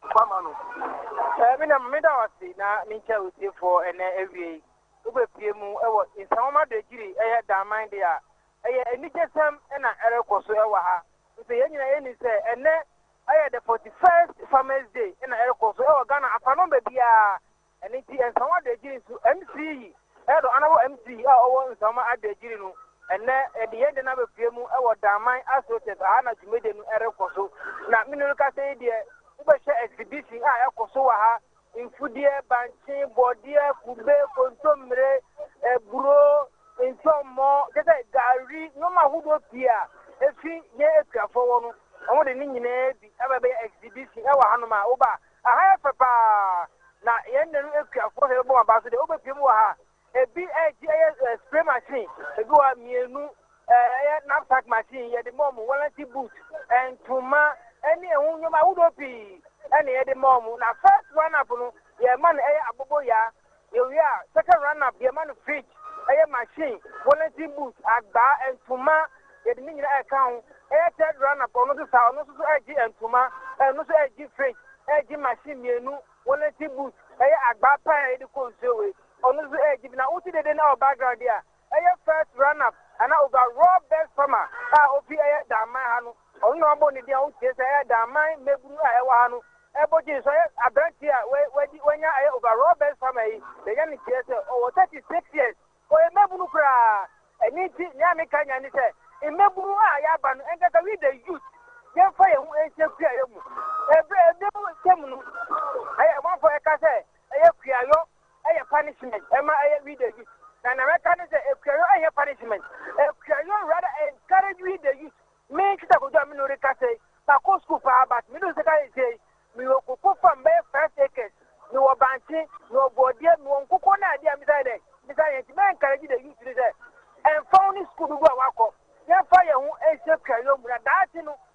Kwa ma no. Ɛɛ, me na meda wo ase na menkyɛ wo tiefoɔ ɛnɛ awiei. Wobɛpue mu wɔ nsɛmwoma Dwadziri ɛyɛ Daman deɛ a, ɛyɛ anigyesɛm na ɛrekɔ so wɔ ha. Nso yɛn nyinaa yɛnim sɛ ɛnɛ ɛyɛ the 41st Farmers Day na ɛrekɔ so wɔ Ghana afanomba biara Ɛno nti Nsawama Adagyiri nso Mce yi ɛdɔ anabɔ Mce yi a ɔwɔ Nsawama Adagyiri no ɛnɛ ɛde yɛn de no abɛpue mu ɛwɔ Daman Asotef aha na dwumadie no ɛrekɔ so na mene rekasa yi deɛ wobɛhwɛ exhibition a ɛkɔ so wɔ ha mfudeɛ bankye bɔdeɛ kube kontommire aburo ntɔmmɔ kyɛ sɛ gari nneɛma ahodoɔ pii a ɛfi yɛn akuafoɔ wɔ no wɔn de ne nyinaa bi ɛbɛbɛyɛ exhibition ɛwɔ hanom a woba Ɛha yɛ fɛ paa, na yɛn nna no akuafoɔ hwɛ bɛbɔ wɔn aba so deɛ wobɛpie mu wɔ ha. Ebi ɛgye ɛyɛ eh, spray machine, ebi wɔ ha mmienu, eh, ɛyɛ knapsack machine, yɛde ma wɔn warranty boot, eh, ntoma, ɛne eh, ɛho nneɛma ahodoɔ pii ɛna yɛde ma wɔn. Na first run up no, yɛma no ɛyɛ abobo yaa. Yɛwie a, second run up yɛma no fridge, ɛyɛ machine, wellington boot, agbaa, ntoma, yɛde ne nyina ɛka ho. Ɛyɛ third run up ɔno nso saa, ɔno nso so ɛgye ntoma, ɛno nso ɛgye fridge, ɛgye machine mmienu, wellington boot, ɛyɛ agbaa paa a yɛde kɔ nsuo wei, ɔno nso ɛgye bi. Na wote dede no ɛwɔ background yi a, Ɛyɛ first run up anaa overall best farmer a ofi ɛyɛ Danman ha no, ɔno na wɔabɔ ne din a wotie sɛ ɛyɛ Danman mmabunu a ɛwɔ ha no ɛbɔ din. So ɛyɛ aberanteɛ a wadi wanya ɛyɛ overall best farmer yi, deɛ ɛyɛ ne teɛ sɛ ɔwɔ 36 years, ɔyɛ mmabunu koraa. Ɛno nti nea meka nya ne sɛ mmabunu a yɛaba no ɛnkasa we the youth yɛmfa yɛn ho nhyɛ kuayɔ mu. Ɛberɛ ɛberɛ mu nsɛm no ɛyɛ amanfoɔ ɛka sɛ ɛyɛ kuayɔ ɛyɛ punishment ɛma ɛyɛ we the youth na na mɛka ne sɛ akuayɔ ɛnyɛ punishment akuayɔ rather encourage we the youth me kita kojú a me na ɔreka sɛ makɔ school paa but me dun sika yɛ sɛ me wɔ koko fam bɛyɛ five acres me wɔ bankye me wɔ bɔɔdeɛ me wɔ nkokɔ na adeɛ a me sɛ dɛ me sɛ yɛn ti mɛ encourage the youth ne sɛ ɛnfa wo ne school dodo a wakɔ yɛnfa yɛn ho ɛnhyɛ akuayɔ mu na daakye no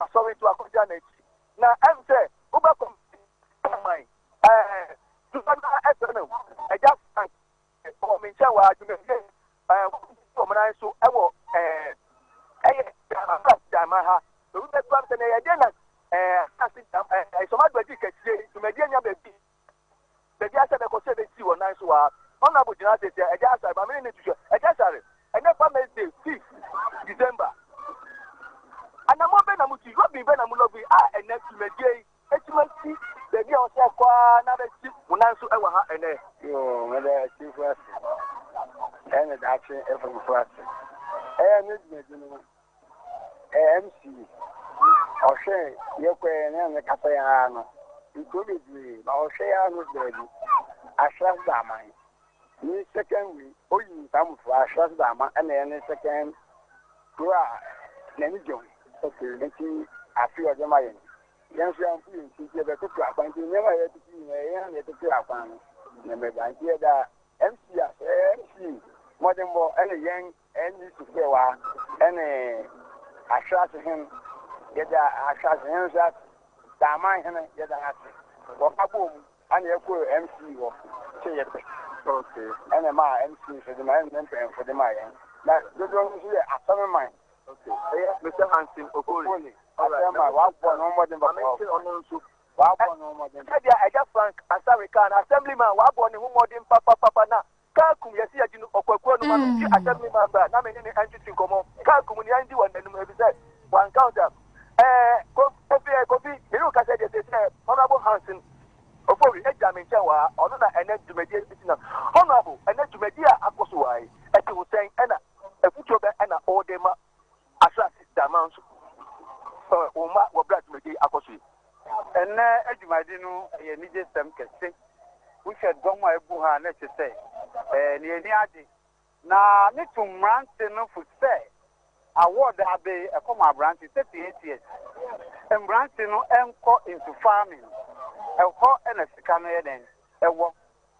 Asɔre to akɔgya n'akyi na ɛm sɛ wobɛ kɔ Ghana man ɛɛ dodoɔ no ara ɛsɛ no Agya Frank wɔ me nkyɛn wɔ ha dwumadie ɛɛ wɔn wɔn nan so ɛwɔ ɛɛ ɛyɛ asase dama ha obi bɛ tuam sɛ na ɛyɛ deɛ na ɛɛ asase dama ɛɛ sɔmadɔgye kɛseɛ dwumadie nya baabi Baabiara sɛ bɛkɔ sɛ bɛsi wɔn nan so aa. Honourable gyina ase sɛ Agya Asare ma me ne no ntu hwɛ. Agya Asare, ɛnɛ fa Mɛsday fifth December, anammɔn bɛn na motu yi, lɔbin bɛn na mo lɔbin a ɛnɛ dwumadie yi atumi asi baabi a ɔsɛ ɛkɔ aa na abɛsi mo nan so ɛwɔ ha ɛnɛ? Yoo, meda atiefo ase, ɛne daakye afomufo ase. Ɛyɛ ne dwumadie no, AMC ɔhwɛ yɛ kɔ yɛ ne ne kasa yɛ ara no nkuro bebree na ɔhwɛ yɛ ara no baabi asras da ama yi ne second way oyi ntamfo asras da ama ɛna yɛ ne second kuro a n'ani gye ho nti afi ɔde ma yɛn yɛn nso yɛn yɛn ti yɛ bɛtoto akwan nti nneɛma yɛ tete yi na yɛn yɛ tete akwan no na mɛba nti yɛ da MC a MC mmɔdenbɔ ɛna yɛn Ɛnde Tekoa ne Ahweras hen yɛda Ahweras hen nso ase, Daaman hen yɛda no ase, wɔ abɔ mu ɛna yɛkɔ MC hɔ sɛ yɛpɛ. Ɛna ɛma MC nso de ma ɛna ne mpanyinfo de ma yɛn. Na dodoɔ no nso yɛ asɛm man. Ɛyɛ Mr. Hansen Okoli asɛm man wabɔ no mmɔden bɔ kɔɔ. Ɔno nso wabɔ no mmɔden. Sɛdeɛ Agya Frank Asare kaa no, Assemblyman wabɔ ne ho mmɔden papapapa na Kaa kum yɛse yɛgye no ɔkwakua no ma no gye asɛm no ma mbra na me ne no ɛntwetwe nkɔmɔ kaa kum no yɛndi wɔ nanum efisɛ wanka ɔtam ɛɛ kofi ɛɛ kofi me ne wo kasɛ deɛ sɛsi ɛɛ honorable Hanson Ofori ɛgyina me nkyɛn wɔ ha ɔno na ɛnɛ dwumadie ɛsi nam honorable ɛnɛ dwumadie a akɔ so wɔ ha yi ɛte wo sɛn ɛna ɛfutuo bɛ ɛna ɔde ma Asase da aman so. Wɔn mma wɔ bere a dwumadi akɔ so yi. Ɛnnɛ adwumadi no yɛ anigyesɛm kɛse. Wohwɛ dɔm a abu ha a, na ɛte sɛ nea ani agye. Na metu mmerante no fo sɛ awɔɔd a abe yi, ɛkɔ ma aberante sɛ PATS. Mmerante no nkɔ nsu farming. Ɛhɔ na sika no yɛ dɛn wɔ.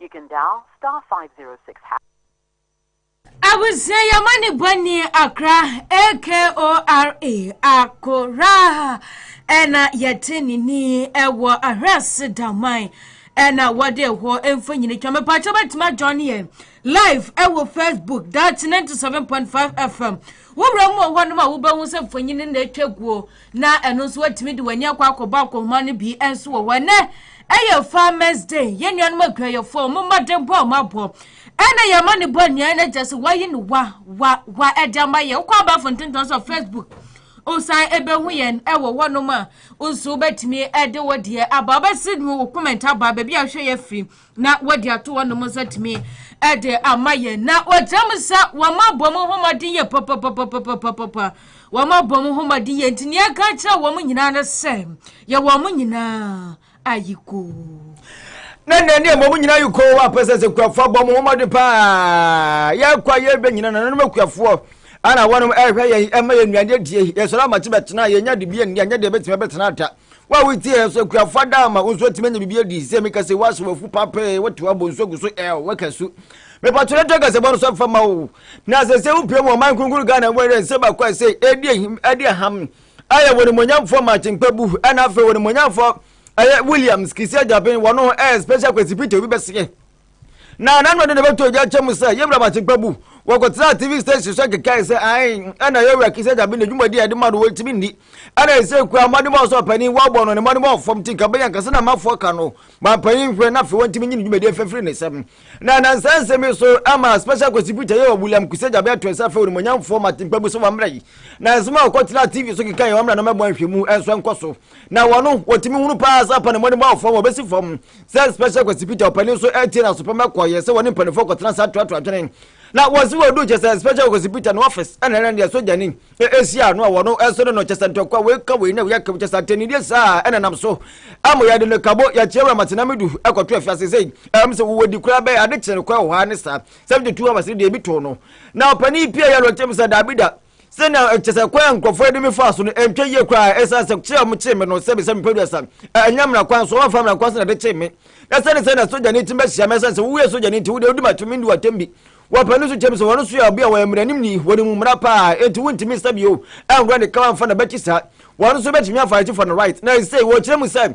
You can dial star five zero six hash. Abusua yɛma ne bɔ ni akra AKORA akora ɛna yɛte ne ni ɛwɔ ahwɛse daman ɛna wɔde ɛhɔ mfonyini twa mepatwa bɛtumi adwa ne yɛn live ɛwɔ Facebook daakye 97.5 FM wowura mu wɔ hɔ nom a wobɛhu sɛ mfonyini na atwa guo Na ɛno nso woatumi de w'ani akɔ akɔbɔ akɔnhoma no bi nso wɔ hɔ. Ɛnɛ ɛyɛ Farmers Day. Yɛn nuanom adwumayɛfoɔ wɔn mmɔdenbɔ a wɔabɔ ɛna yɛn ma no bɔ nnuan no gya sɛ wɔayi no wa wa wa ɛde ama yɛn. Wokɔ abɛɛfo ntentan so Facebook wosan ɛbɛhu yɛn ɛwɔ hɔnom a nso wobɛtumi ɛde wo deɛ aba wobɛsi wo comment aba baabi a wohwɛ yɛ firi na wɔde ato hɔnom nso atumi de ama yɛn na wɔgyina mu sɛ wɔn abɔ mu homɔden yɛ papapapapapapa wɔn abɔ mu homɔden yɛ nti nea ɛka kyerɛ wɔn nyinaa no sɛ yɛ wɔn nyinaa ayiko. na nea ne ɛbɔ mu nyinaa ayiko wɔ apɛ sɛ sɛ kuafoɔ abɔ mu homɔden paa yɛkɔ a yɛbɛ nyina nananom akuafoɔ ana wɔnom ɛhwɛ yɛn ɛma yɛn nnuane adie yɛsɔre amakye bɛtena yɛnya de bi anni anyɛ deɛ bɛtumi bɛtena da Wo a wotie yɛn nso, akuafo adaama, wo nso atumi anya biribi adi. Sɛ meka sɛ woasɛ wafu papee, wote wabɔ nsu agu so ɛl, woaka su. Mepatwɛ na to akasɛbɔ no so mfa ma wo. Na sɛ sɛ wopie mu ɔman kronkron Ghana mu ɛdɛ nsɛ baako a ɛsɛ ɛdi ahim ɛdi aham ɛyɛ wɔn mmonyamfoɔ Makyenkpa bu ɛna afei wɔn mmonyamfoɔ ɛyɛ Williams Kisi Agyaben wɔn ho ɛyɛ special kwasi Peter obi bɛseɛ. na na no ɔde ne bɛto ogya kyɛ mu sɛ yɛwura bakye pa bu wɔkɔtena tv station so kekae sɛ ae ɛna yɛwura kisa gyabe ne dwumadi a ɛde ma no wɔntumi nni ɛna ɛsɛ kura mmɔdemmɔ ɔsɛ ɔpanin wɔabɔ no ne mmɔdemmɔ ɔfam ti nka bɛnya nkasa na amafoɔ ka no ma mpanin hwɛ na afei wɔntumi nyi ne dwumadi afafiri ne nsɛm na nansa nsɛm yi so ama special contributor yɛ wɔ william kisa gyabe ato ɛsɛ afei onimonyamfoɔ matempa bu so wɔmmra yi na nsɛm a wɔkɔtena tv so kekae wɔmmra no mɛbɔ nhwɛmu ɛnso ɛnkɔ so na wɔn no wɔtumi hunu paa sɛ apa ne mmɔne bɔ fam wɔbɛsi fam sɛ special kwasi peter ɔpanin nso ɛtie na asopam ɛkɔ yɛ sɛ wɔne mpanimfoɔ kɔtena saa toatoa adwene na wɔn si wɔdu kyɛ sɛ special kwasi peter no office ɛna ɛna deɛ sogyani ɛsi ano a wɔn ɛso no no kyɛ sɛ ntɔkwa wei ka wei na wei aka kyɛ sɛ atɛnidie saa ɛna nam so ama yɛde no kabo yɛkyerɛ wura matena medu ɛkɔto afiase sɛ ɛm sɛ wɔwɔ di koraa bɛyɛ ade kyerɛ no koraa wɔ hɔ ne saa 72 hours deɛ ebi too no na ɔpanin pie yɛ no ɔkyɛm sɛ daabida sɛnea ɛkyɛ sɛ kwan a nkurɔfoɔ de me faa so no ɛntwa yie koraa ɛsiane sɛ kyerɛ a wɔkyee me no sɛbi sɛ mepɛ duasa ɛnyɛ mmara kwan so wɔmfa mmara kwan so na ɛde kyee me na sɛne sɛ na sogyani tim bɛhyia me ɛsiane sɛ wowie sogyani nti wode wodi mato mendi watam bi wɔpɛ no so kyɛm sɛ wɔn so yɛ ɔbea wɔyɛ mmaranim ni wɔde mu mmara paa enti wontumi nsa bio ɛnkorɔ ne kawa mfa na bɛkyi saa wɔn nso bɛtumi afa akyi for no right na ɛsei wɔkyerɛ mu sɛ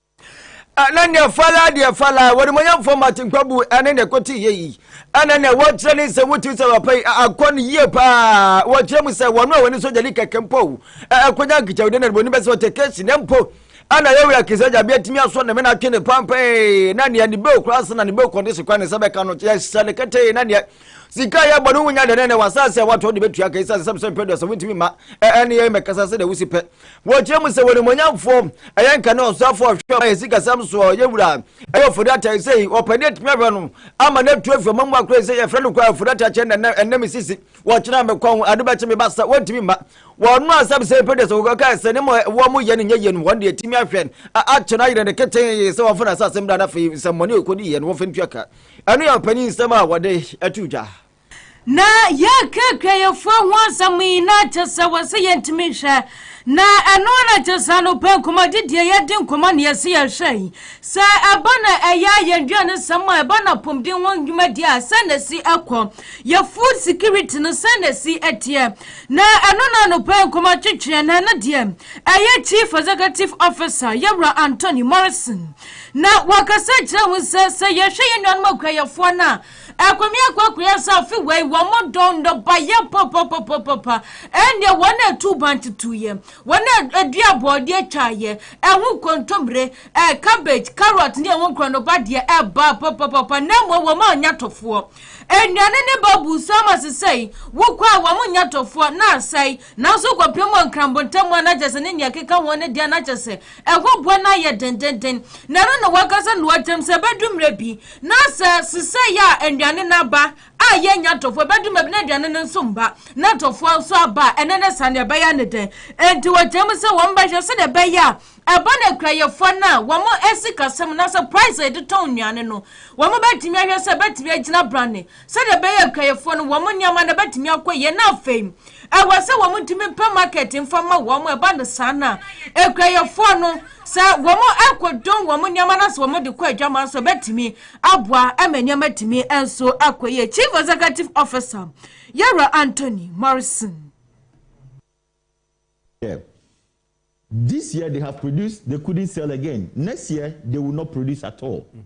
ɛne nea fala deɛ fala wɔnimonyamfoɔ martin kwabu ɛne nea ɛkɔte yɛ yi ɛne nea wɔkyerɛ ne nsɛm wotumi sɛ papa yi akɔ no yie paa wɔkyerɛ mu sɛ wɔn a wɔne sogya di kɛkɛ mpo ɛkɔnya nkekyɛwde na wɔnim bɛsɛ wɔte kɛsi na mpo ɛna yɛwura kesa gya bi atumi asɔ ne mena twe ne pampɛe na nea ne bɛo koraa se na ne bɛo kɔde se kwan ne sɛ bɛka no yɛhyɛ ne kɛtɛe na nea sika a yɛbɔ no wonya dɛnɛnɛ w'asase a woatɔ de bɛtua ka ɛsiane sɛ mesɛ mpɛ duasa wontumi mma ɛne yɛn mɛkasa sɛ deɛ wosi pɛ wɔkyerɛ mu sɛ wɔnimonyamfoɔ ɛyɛ nka ne ɔsoafoɔ ɔhwɛ ɔma yɛ sikasɛm soɔ yɛ wura ɛyɛ ɔfodata ɛsɛ yi ɔpɛne atumi ahwɛ no ama no atu afi ɔma mu akorɛ sɛ yɛfrɛ no kora ɔfodata kyɛ nɛ ɛnɛ me sisi wɔkyerɛ mekɔ ho ade bɛkye me ba sɛ wɔntumi mma wɔno asɛm sɛ pɛ duasa wɔkɔka sɛ ne mɔ wɔ mo yɛ no nyɛ yɛ no wɔn deɛ atumi ahwɛ akyɛ no ayerɛ ne ketee sɛ wɔfo no asasɛm da no afei nsɛmmɔne ɔkɔdi yɛ no wɔfɛ ntua ka Ɛno yɛ ɔpanyin nsɛm a wɔde to dwa. Na yɛreka akuayɛfoɔ ho asɛm yi na kyɛ sɛ wɔse yɛntumi nhwɛ, na ɛno ara na kyɛ sɛ anɔpa nkɔmmɔdi deɛ yɛdi nkɔmmɔ na yɛse yɛhwɛ yi, sɛ ɛba na ɛyɛ a yɛn dwanesɛm a ɛba no apɔmuden ho dwumadie a sɛn na ɛsi kɔ, yɛn food security no sɛn na ɛsi teɛ, na ɛno na anɔpa nkɔmmɔ twetweɛ, na ɛno deɛ ɛyɛ Chief Executive Officer, Yɛwura Anthony Morrison. Na wɔkasa kyerɛ ho sɛ, sɛ yɛhwɛ yɛn nuanom akuayɛfoɔ no a, ɛkɔmi akoakoya sɛ afe wei wɔn dɔn nnɔbaeɛ papapapapa, ɛnneɛ wɔn a ɛtu ban tutuiɛ, wɔn a ɛdua bɔɔdeɛ twaaeɛ, ɛho kontommire, ɛɛ cabbage, carrot ne ɛho nkorɔ no badeɛ ɛbaa papapapa, na mmom wɔn a nya tɔfoɔ. Nnuane ne ba buu so ama sesɛi, wokɔ a wɔn nya tɔfoɔ, na asɛe. Nanso kɔpem wɔ Nkranbo ntam a na kyerɛ sɛ ne nea ɛkeka ho no deɛ na kyerɛ sɛ ɛho boa no ayɛ dendenden. Na ɛno na wɔankasa na wɔakyerɛ mu sɛ ɛbɛdu mmerɛ bi na sɛ sesɛɛ a nnuane no aba a yɛnnya ntɔfoɔ, ɛbɛdu mmerɛ bi na aduane no nso mma na ntɔfoɔ nso aba a ɛno ne saa no ɛbɛyɛ ne dɛn. Enti wɔkyerɛ mu sɛ wɔbɛhwɛ sɛdeɛ ɛbɛyɛ a ɛba no akuayɛfoɔ no a wɔn asikasɛm na sɛ price a yɛde tɔn nnuane no wɔbɛtumi ahwɛ sɛ ɛbɛtumi agyina brane Sɛdeɛ ɛbɛyɛ nkaeɛfoɔ no wɔn nneɛma no bɛtumi akɔ yie na afei ɛwɔ sɛ wɔn ntumi mpɛ market mfa ma wɔn ɛba no saa na nkaeɛfoɔ no sɛ wɔn akɔdɔn wɔn nneɛma no sɛ wɔn de kɔ adwama nso ɛbɛtumi aboa ɛma nneɛma tumi nso akɔ yie chief executive officer yɛwura anthony morrison Yeah. This year they have produced, they couldn't sell again. Next year they will not produce at all. Mm.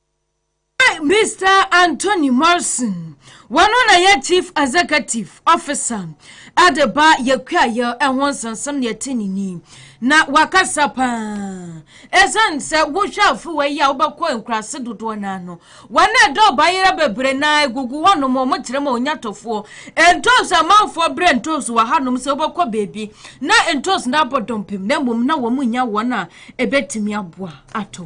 Mister Anthony Morrison, wɔn na yɛ Chief Executive Officer de ba yɛkuayɛ ho nsɛnsɛm ne ɛte ne ni na wakasa paa ɛsiane sɛ wohwɛ afewa yi a wobɛkɔ nkuraase dodoɔ no ano wɔn a ɛdɔ ɔbayera bebree na egugu hɔnom wɔn kyerɛ ma onyatɔfoɔ ntoosi amanfoɔ brɛ ntoosi wɔ hanom sɛ wobɛkɔ baabi na ntoosi no abɔ dɔmpem na mmom na wɔn nya wɔn a ɛbɛtumi aboa ato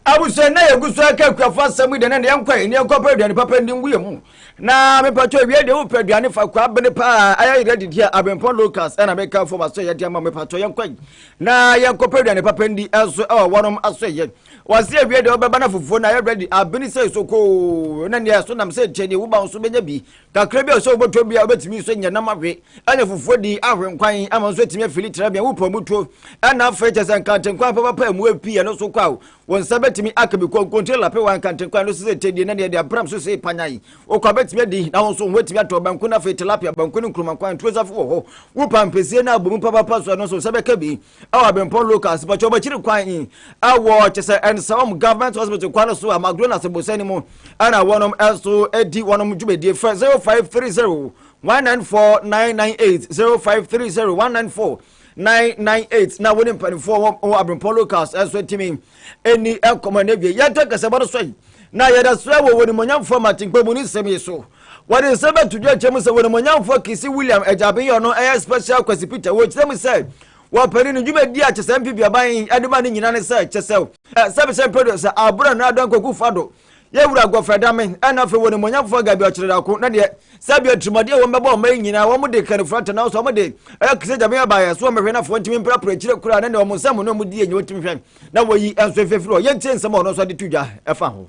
Abusua nna yɛ gu so aka akuafo asɛm yi dɛ nɛ yɛnkɔ ɛ nneɛ nkɔpɛ aduane papa ndi ngu yɛ mu na mepatwɔ awia deɛ wopɛ aduane fa kɔ abene paa ayɛ yerɛ didi a abempɔn locals ɛna meka fo waso yɛ deɛ ma mepatwɔ yɛnkɔ ɛ na yɛnkɔpɛ aduane papa ndi ɛso ɛwɔ wɔnom aso yɛ wase awia deɛ wobɛba na fufuo na ayɛ ready abene sɛ sokoo na neɛ ɛso nam sɛ nkyɛn deɛ wuba nso bɛnya bi Kakra bi a ɛsɛ sɛ wobɛtɔ bi a wobɛtumi nso nyɛ nam ahwe ne fufuo di ahwe nkwan ama nso atumi afili tena bia wopɔ mu tuo ɛna afei kyɛ sɛ nkantenkwan pɛpɛpɛ mu api ɛno so kɔ a wo nsa bɛtumi aka bi konkontire lape wa nkantenkwan no sɛ sɛ tɛdie na deɛ de abram so sei panyan wokɔ a bɛtumi adi na wo nso wobɛtumi atɔ banku no afei tilapia banku ne nkuruma nkwan tuo safo wɔ hɔ wo pampɛsie no abɔ mu papapa so ɛno nso sɛ bɛka bi ɛwɔ abempɔ local asipɔkyɛ wɔn akyiri kwan yi ɛwɔ kyɛ sɛ ɛnsɛm government hospital kwan so a magdona sɛbosɛ no mu ɛna wɔnom ɛso ɛdi wɔnom dwumadie fɛ 0530 194 998 0530 194 998 na wɔne mpanimfoɔ wɔ abempɔ locals ɛso atumi ɛni ɛkɔmɔ no awie yɛntɛ kɛsɛ bɔ no so yi na yɛda so wɔ wɔn nimonyamfoɔ matempa mu ne nsɛm yi so Wɔde nsɛm bɛto dwa akyerɛ mu sɛ wɔnimonyamfoɔ Kisi William Agyabenyɔ no yɛ Special Kwasi Peter. Wɔkyerɛ mu sɛ wɔpɛne no dwumadi a Kyesɛ Mpibyaban de ma no nyina ne sɛ Kyesɛ sɛ Bishop Pedro sɛ Abura no Adɔn Kwaku Fado yɛ wura Gɔfrɛ Dame ɛna afei wɔnimonyamfoɔ Gabi Ɔkyerɛdako na deɛ sɛ bia tirimɔden a wɔn bɛbɔ ɔma yi nyinaa wɔn de kɛne frata nanso wɔn de ɛyɛ Kisi Agyabenyɔ baayɛ so wɔn bɛhwɛ nafoɔ ntumi mprapra akyire koraa na deɛ wɔn nsɛm no wɔn die nyɛ wɔtumi hwɛ na wɔyi nso efefiri hɔ yɛntie nsɛm a ɔno nso de to dwa ɛfa ho.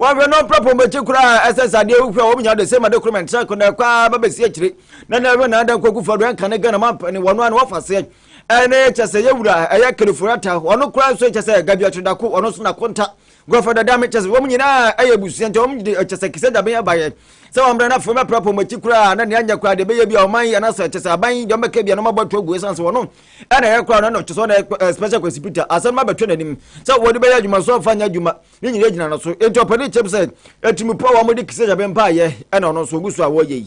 wɔhwɛ no ɔpra pɔn bɛkyi koraa ɛsɛ sɛ adeɛ wohwɛ a wɔm nya de sɛ ma de koroma ntra ko na ɛkɔ a ba bɛsi akyire na na ɛhwɛ na ada nkɔ kufa do ɛnka ne gana ma mpɛne wɔn ano wafa seɛ ɛne kyɛ sɛ yɛwura ɛyɛ kaliforata wɔn koraa nso kyɛ sɛ gabi atwedako wɔn nso na konta gɔfa dada me kyɛ sɛ wɔn nyinaa ɛyɛ busua nti wɔn de kyɛ sɛ kisɛ dabe abayɛ sɛ wɔn mmerɛ n'afɔ mɛpra pɔn bɛkyi koraa na nea nyɛ koraa deɛ bɛyɛ bi a wɔn ayɛ na sɛ kyɛ sɛ aban yi deɛ wɔn bɛka bi a na wɔn abɔ to agu esan sɛ wɔn ɛna ɛyɛ koraa na ɛna kyɛ sɛ wɔn ɛyɛ special kwasi peter asɛm ma bɛtwɛ n'anim sɛ wɔde bɛyɛ adwuma so ɔfa nyɛ adwuma ne nyinaa gyina no so enti ɔpɛ ne kyɛm sɛ atirimupoɔ a wɔde kisa nyame mpaeɛ ɛna ɔno nso ɔgu so a wɔyɛ yi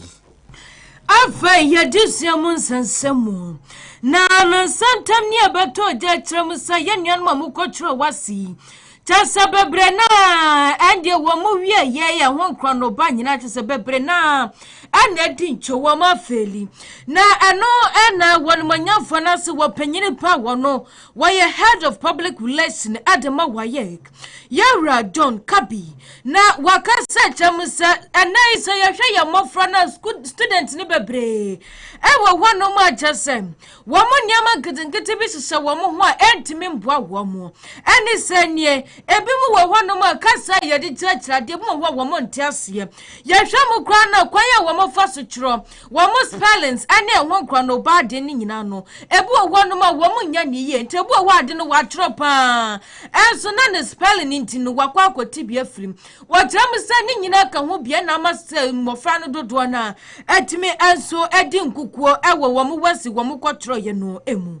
afei yɛde sua mu nsɛnsɛm mu na no nsɛntɛm ne ɛbɛtɔ gya akyerɛ mu sɛ yɛ nuanom a mokɔtwerɛ wase yi kyɛ sɛ bebree no a ɛndeɛ wɔ mo wie yɛ yɛ ho nkorɔ no ba nyinaa kyɛ sɛ bebree no a ɛna adi nkyo wɔ mo afeeli na ɛno ɛna wɔn manyamfoɔ no ase wɔ panyini pa wɔ no Wɔyɛ head of public relation de ma WAEC, Yɛwura John Kabi, na waka sɛ kyɛm sɛ ɛnɛ yi sɛ yɛhwɛ yɛn mmɔfra na student no bebree ɛwɔ hɔnom a kyɛ sɛ wɔn nneɛma nketenkete bi hyehyɛ wɔn ho a ɛntumi mboa wɔn mo ɛne sɛ nie ebi mu wɔ hɔnom a kasa a yɛde kyerɛkyerɛ adeɛ mu wɔ hɔ a wɔn nte aseɛ yɛhwɛ mo koraa na kwan a wɔn fa so twerɛ Wɔn spellings ne ɛho nkorɔnoba ade no nyinaa no, ebi wɔ hɔnom a wɔn nyɛ ne yie, nti ebi wɔ hɔ ade no wɔatwerɛ paa, ɛnso na ne spelling nti no wakɔ akɔte bi afiri mu. Wɔkyerɛ mu sɛ ne nyinaa ka ho bia na ama sɛ mmɔfra no dodoɔ no a atumi nso adi nkukuo wɔ wɔn wasi wɔn kɔtwerɛeɛ no mu.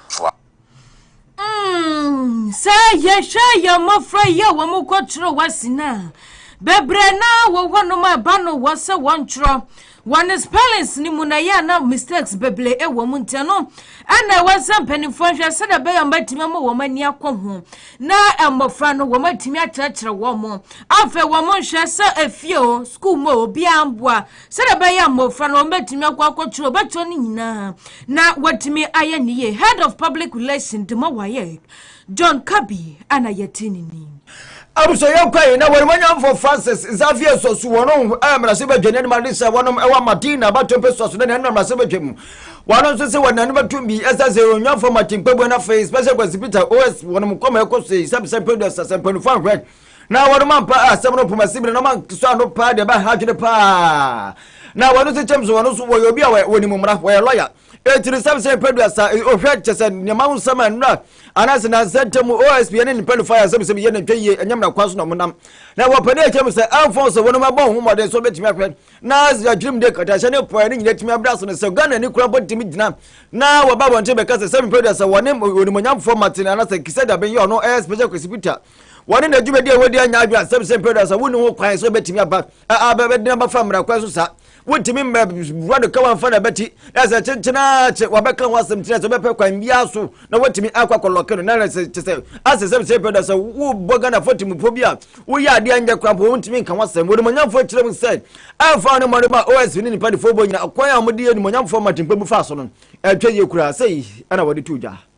toa. Mm, sɛ yɛhwɛ yɛn mmɔfra yi a wɔn kɔtwerɛ wɔ ase no a bebree na wɔ hɔnom a ɛba no wɔ sɛ wɔntwerɛ wɔn spellings no mu na ɛyɛ a na mistakes bebree wɔ mu nti no ɛna ɛwɔ sɛ mpanimfoɔ nhwɛ sɛdeɛ ɛbɛyɛ wɔatumi ama wɔn ani akɔ ho na mmɔfra no wɔn atumi akyerɛkyerɛ wɔn afei wɔn nhwɛ sɛ efie o sukuu mu o obiara mboa sɛdeɛ ɛbɛyɛ a mmɔfra no wɔbɛtumi akɔ akɔtwerɛ ɔbɛtwerɛ no nyinaa na watumi ayɛ ne yie head of public relation de ma wayɛ john kabi ana yɛte ne ni abusɔyɛ kwan na wɔn manyamfo francis xavier sɔso wɔn ho ɛyɛ mmarase badwa ne anima de sɛ wɔnom ɛwɔ martina batompe sɔso ne nanum mmarase badwa mu wɔn nso sɛ wɔn nanum atum bi ɛsɛ sɛ onyanfo martin kpagbo na afei special kwasi peter os wɔnom kɔma ɛkɔ so yi sɛbisɛ producer sɛ mpanimfoɔ ahwɛ Na wɔnom ampa asɛm no poma sibire na wɔn ankesɔ ano paa deɛ ɛbaa ha adwene paa. Na wɔn nso kyɛm so wɔn nso wɔyɛ obi a wɔnim mmara wɔyɛ lɔya. Eti no sɛm sɛ mpɛduasa ohwɛ kyɛ sɛ nneɛma ho nsɛm a nnura anaasɛ nansa ntam OSP ne mpanyinfo ayɛ asɛm sɛ yɛ na ntwa yie ɛnyɛ mmara kwan so na wɔn nam. Na wɔpɛ dɛ kyɛm sɛ ɛmfɔn sɛ wɔnom abɔ ho mmɔden so betumi ahwɛ na adwirimde nkatahyɛ ne pɔɛ ne nyinaa tumi abra ase no sɛ Ghana ni kura bɔ tumi gyina na wɔba abɔnten bɛka sɛ sɛ mpɛduasa wɔne onimonyamfoɔ Martin anaasɛ Kisɛ Dabeng yɛ ɔno ɛyɛ Special Kwesi Peter wɔne na dwumadi a wɔdi anya adwene asɛm sɛ paradise a wonni ho kwan sɛ wɔbɛtumi aba a bɛdena bafa mmara kwan so saa wontumi mmɛ wura no ka wɔmfa na bɛti na sɛ kyenkyenaa kye wɔbɛka ho asɛm kyerɛ sɛ bɛpɛ kwan biara so na wɔtumi akɔ akɔlɔke no na na sɛ kyɛ sɛ asɛ sɛ sɛ pɛ da sɛ wobɔ ghanafoɔ temmufo bi a woyɛ adeɛ nyɛ kora mpo wontumi nka ho asɛm wɔnimonyamfoɔ kyerɛ mu sɛ ɛmfa ne mmɔde ma os ne nipa defoɔ bɔ nyina kwan a wɔde yɛ nimonyamfoɔ ma tempa mu fa so no ɛtwa yie koraa sɛ ɛna wɔde to dwa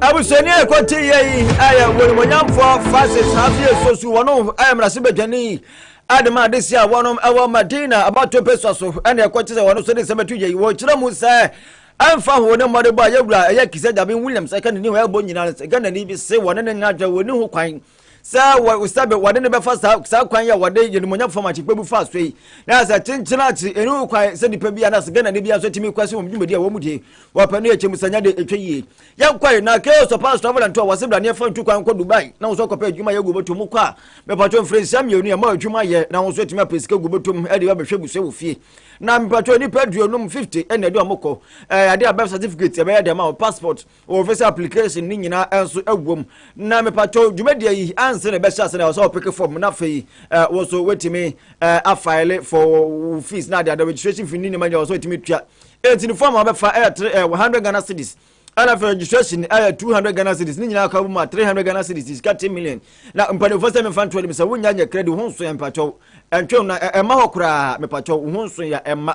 Abusuani a ɛkɔ te yɛ yi a yɛ wɔn monyamfoɔ Francis Xavier Sosu wɔn a mmarahyɛ badwani a de ma ade si a wɔn ɛwɔ Madina abato pesua so ɛna ɛkɔ te sɛ wɔn so de nsɛm ɛto yɛ yi wɔkyerɛ mu sɛ ɛmfa ho ne mmɔdebɔ a yɛwura ɛyɛ Kizza Dame Williams ɛka ne ni hɔ ɛbɔ nyinaa no sɛ Ghanani bi se wɔne ne ngadwa wɔni ho kwan sɛ wɔ sɛ wɔde no bɛfa saa saa kwan yi a wɔde yɛnumonyam fam akyekpɛ bu fa so yi na sɛ kyenkyen akyi ɛnu kwan sɛ nipa bi anaasɛ ghana ne bi nso tumi kɔ so wɔn dwumadi a wɔn mu die wɔpɛ no yɛ kyɛm sanya de ɛtwa yie yɛn kɔe na chaos of past travel and tour wɔse braneɛ fa ntu kwan kɔ dubai na wɔn nso akɔpɛ adwuma yɛ gu bɛtɔ mu kɔ a mepatɔ mfiri nsia mmienu ɛma adwuma yɛ na wɔn nso atumi apɛ sika gu bɛtɔ mu ɛde bɛhwɛ busua wɔ fie na mepatɔ nipa aduonum 50 ɛna ɛde wɔn kɔ ɛɛ ade a birth certificate ɛbɛyɛ dɛm a passport wɔ visa application ne nyinaa nso wom na mepatwɔ dwumadie yi ansa na ɛbɛhyɛ ase na ɔsɛ ɔpeke fam na afei wo nso wetumi afile for fees na adeade registration fee ne nneɛma nyinaa ɔsɛ wetumi tua enti ne fam a wɔbɛfa ɛyɛ tre ɛwɔ hundred ghana cedis ɛna afei registration ɛyɛ two hundred ghana cedis ne nyinaa kɔ mu a three hundred ghana cedis is thirty million na mpanimfoɔ sɛ mefa ntoɔ nim sɛ wonya nyɛ credit ho nso yɛ mepatwɔ ɛntwe na ɛma hɔ koraa mepatwɔ ho nso yɛ ɛma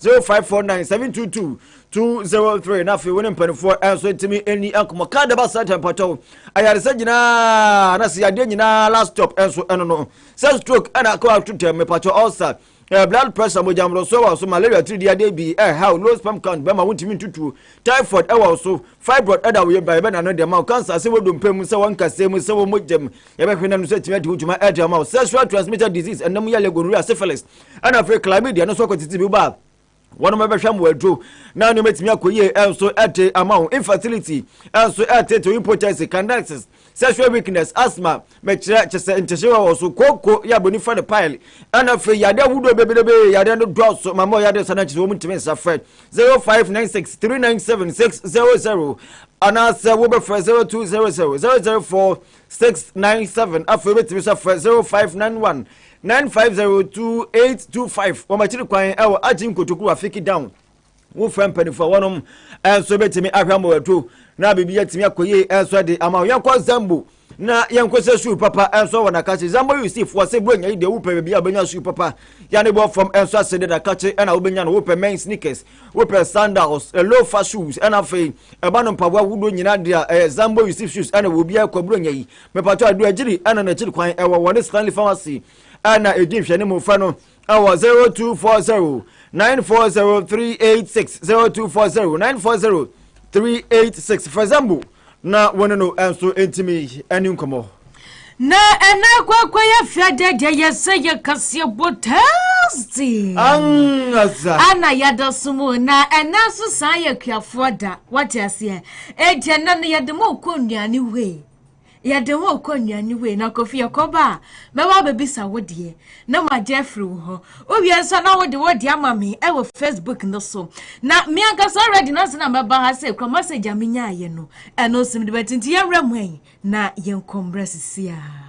zero five four nine seven two two two zero three na afei wo ne mpanimfoɔ nso ntumi ɛni nkɔmɔ kaa daba saa kyɛ mpatwɛw ayaresa nyinaa na sɛ yadeɛ nyinaa last stop nso ɛno no sɛ stroke ɛna akɔ ato tɛm mepatwɛ ulcer eh, blood pressure mogya mmorɔsoɔ wɔ so malaria tiridi adeɛ bi ɛhaw eh, low sperm count bɛma wontumi ntutuo typhoid ɛwɔ so fibroid ɛda wo yɛ ba yɛbɛna no deɛ ma wo cancer sɛ wodompa mu sɛ wɔnkasɛ mu sɛ wɔmɔgyam yɛbɛhwɛ na no sɛ tumi adi wo dwuma ɛde ama wo sexual transmitted disease ɛnam yɛlɛ gonorrhea syphilis ɛna afei chlamydia no nso akɔ tete bi ba a wɔn bɛbɛhwɛ mmoa aduro na nneɛma atumi akɔ yie nso ɛde ama wo infertility nso ɛtete impotency candidiasis sexual weakness asthma mɛkyerɛ kyɛ sɛ nkyɛhyɛ wɔ wɔ so kooko yɛ abɔni fa no pile ɛna afei yade ahodoɔ bebrebe yade no dɔɔso ma mɔ yade sa no akyerɛ wɔn ntumi nsa frɛ 0596 397 600 anaasɛ wobɛfrɛ 0200 004 six nine seven afei wobɛtumi nso afrɛ zero five nine one nine five zero two eight two five wɔn akyiri kwan ɛwɔ agye nkotokuro afiki down wofrɛ mpanimfoɔ wɔnom ɛnso bɛtumi ahwɛ ama wɔatu na biribi atumi akɔ yie ɛnso de ama yɛnkɔ zambo na yɛnkɔ sɛ suu papa ɛnso wɔ nakakye zambo yusifoɔ sɛ buronya yi deɛ wopɛ baabi a wobɛnya suu papa yɛne bɔ fam ɛnso ase de nakakye ɛna wobɛnya no wopɛ mɛn sneakers wopɛ sandals lofa shoes ɛna afei ɛba no mpaboa ahodoɔ nyinaa deɛ a ɛyɛ zambo yusuf shoes ɛna wɔ obiara kwaburo nya yi mepatɔ adu akyiri ɛna n'akyiri kwan ɛwɔ wɔne stanley pharmacy ɛna ɛdi nhwɛne mu fɛ no ɛwɔ 0240 940386 0240 940386 fɛ zambo Na wo ne no nso ntumi ne nkɔmmɔ. Na ɛna kwakwa yɛ fia dɛdɛ yɛ sɛ yɛ kaseɛ bɔ tɛɛsti. Angaza. Ana yɛda so mu na ɛna nso saa yɛ kuafoɔ da wate aseɛ. Eti ɛna no yɛde mo kɔ nnuane wei. Yɛde mo kɔ nnuane wei na kofi yɛkɔba a mɛba abɛbisa wo deɛ. na magye afiri wo hɔ wowie nso na wode wode ama me ɛwɔ facebook no so na me ankasa already na sɛ na mɛba ha sɛ kura message a menyaayɛ no ɛno nso mede bɛte nti yɛmmerɛ mu ɛn na yɛnkɔ mmerɛ sisi a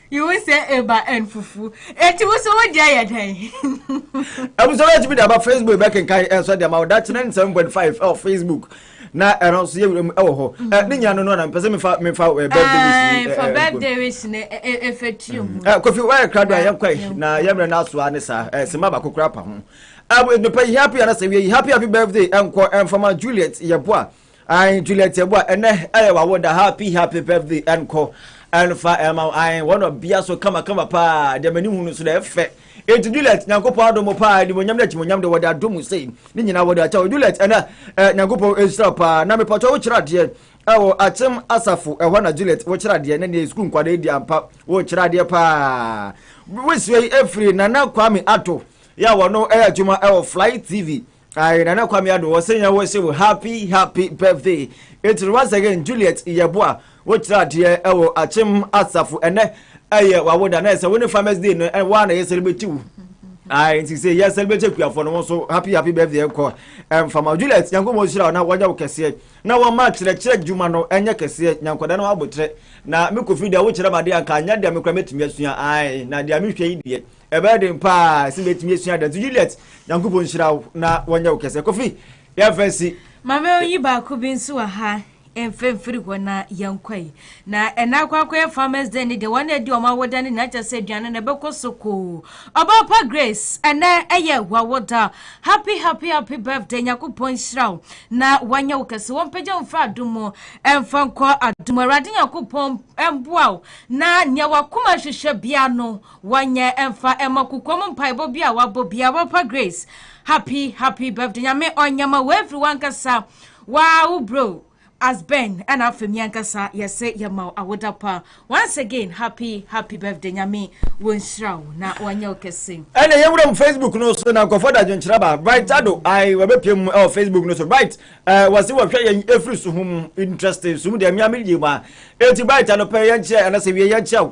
Iwu sɛ eba ɛn fufu. Eti wo so wo deɛ yɛ dɛn? Abusua bɛyɛ tumi de aba Facebook bɛkenkan ɛnso de ama wo dakye na ne seven point five ɛwɔ Facebook na ɛno nso yɛ wura mu ɛwɔ hɔ. Ɛ ne nyina no no na mpɛ sɛ mefa mefa ɛ birthday wish ni ɛ ɛ birthday wish ni ɛ ɛ fɛ tiri mu. Ɛ kofi wɔyɛ kra do a yɛn kɔ yi na yɛn mmerɛ no aso a ne saa ɛ sima baako kura pa ho. Ɛ nipa yi happy anasɛ wie yi happy happy birthday ɛnkɔ ɛnfama Juliet yɛ boa Ae Juliet Yeboah ɛnɛ ɛyɛ wawo da happy happy birthday ɛnkɔ ɛnfa ɛma wo ae wɔn ɔbea so kama kama paa deɛ m'ani hu no so na ɛfɛ eti Juliet nyankopɔn adom mo paa animonyam na akyimonyam de wɔde adom mo sei ne nyinaa wɔde akyɛ wo Juliet ɛnɛ ɛ nyankopɔn ɛnhyira paa na mepatwa wo kyerɛ adeɛ ɛwɔ akyem asafo ɛhɔ na Juliet wo kyerɛ adeɛ ne neɛ sukuu nkwadaa di ampa wo kyerɛ adeɛ paa wosua yi ɛfiri nana kwame ato yɛ a wɔno ɛyɛ adwuma ɛwɔ fly tv Aye Nana Kwame Addo wɔse yɛn wo se wo happy happy birthday Ɛtiri once again Juliet Yeboah wo kyerɛ adeɛ ɛwɔ Akyem Asafo ɛnɛ ɛyɛ wawoda na ɛsɛ wo ne farmers day no ɛwɔ a na yɛ celebrate wo Aye nti se yɛ celebrate akuafoɔ no wo nso happy happy birthday nkɔ ɛmfama Juliet Nyankopɔn nhyira wo na wɔnyɛ wo kɛseɛ na wɔma kyerɛkyerɛ dwuma no ɛnyɛ kɛseɛ nya nkwadaa no aboterɛ na me Kofi deɛ wo kyerɛ me adeɛ a nka nyɛ deɛ me koraa mɛtumi asua Aye na deɛ me hwɛ yi deɛ Ɛbɛyɛ den paa sɛ mɛtumi asua dɛn? So Juliet, Nyankopɔn nhyira wo na wɔnyɛ wo kɛsɛ. Kofi, yɛmfa nsi. Mame oyi baako bi nso wɔ ha mfa mfiri hɔ na yɛnkɔ yi. Na ɛna akɔ akɔyɛ farmers day ne deɛ wɔn na ɛdi wɔn awoda ne nyinaa kyɛ sɛ aduane na ɛbɛkɔ so koo. Ɔbaa pa Grace ɛnɛ ɛyɛ wawoda. Happy happy happy birthday Nyakopɔn nhyira wo na wɔnyɛ wo kɛse wɔn pagya mfiri adom mu ɛmfa nkɔ adom Awurade Nyakopɔn ɛmboa wo na nea wakoma hwehwɛ bia no Wanyɛ ɛmfa ɛmɔ kokoam mpaebɔ bi a wabɔ bia papa Grace happy happy birthday nyame ɔnyɛma wo ɛfiri wankasa waa wo bro as Ben ɛna afɛ mi ankasa yɛse yɛma wo awoda pa once again happy happy birthday nyame wɔnhyira wo na wanyɛ wo kɛse. Ɛna yɛ wuram Facebook no so na nkɔfɔ da dwenkyerɛ ba Bright Ado ai wɔbɛpie mu ɛwɔ Facebook no so Bright ɛɛ wɔsi wɔhwɛ yɛn efiri so ho mu interesting so mu deɛ mmea mi gye mu a eti Bright anɔpɛ yɛn kyerɛ anasɛ wie yɛn kyerɛ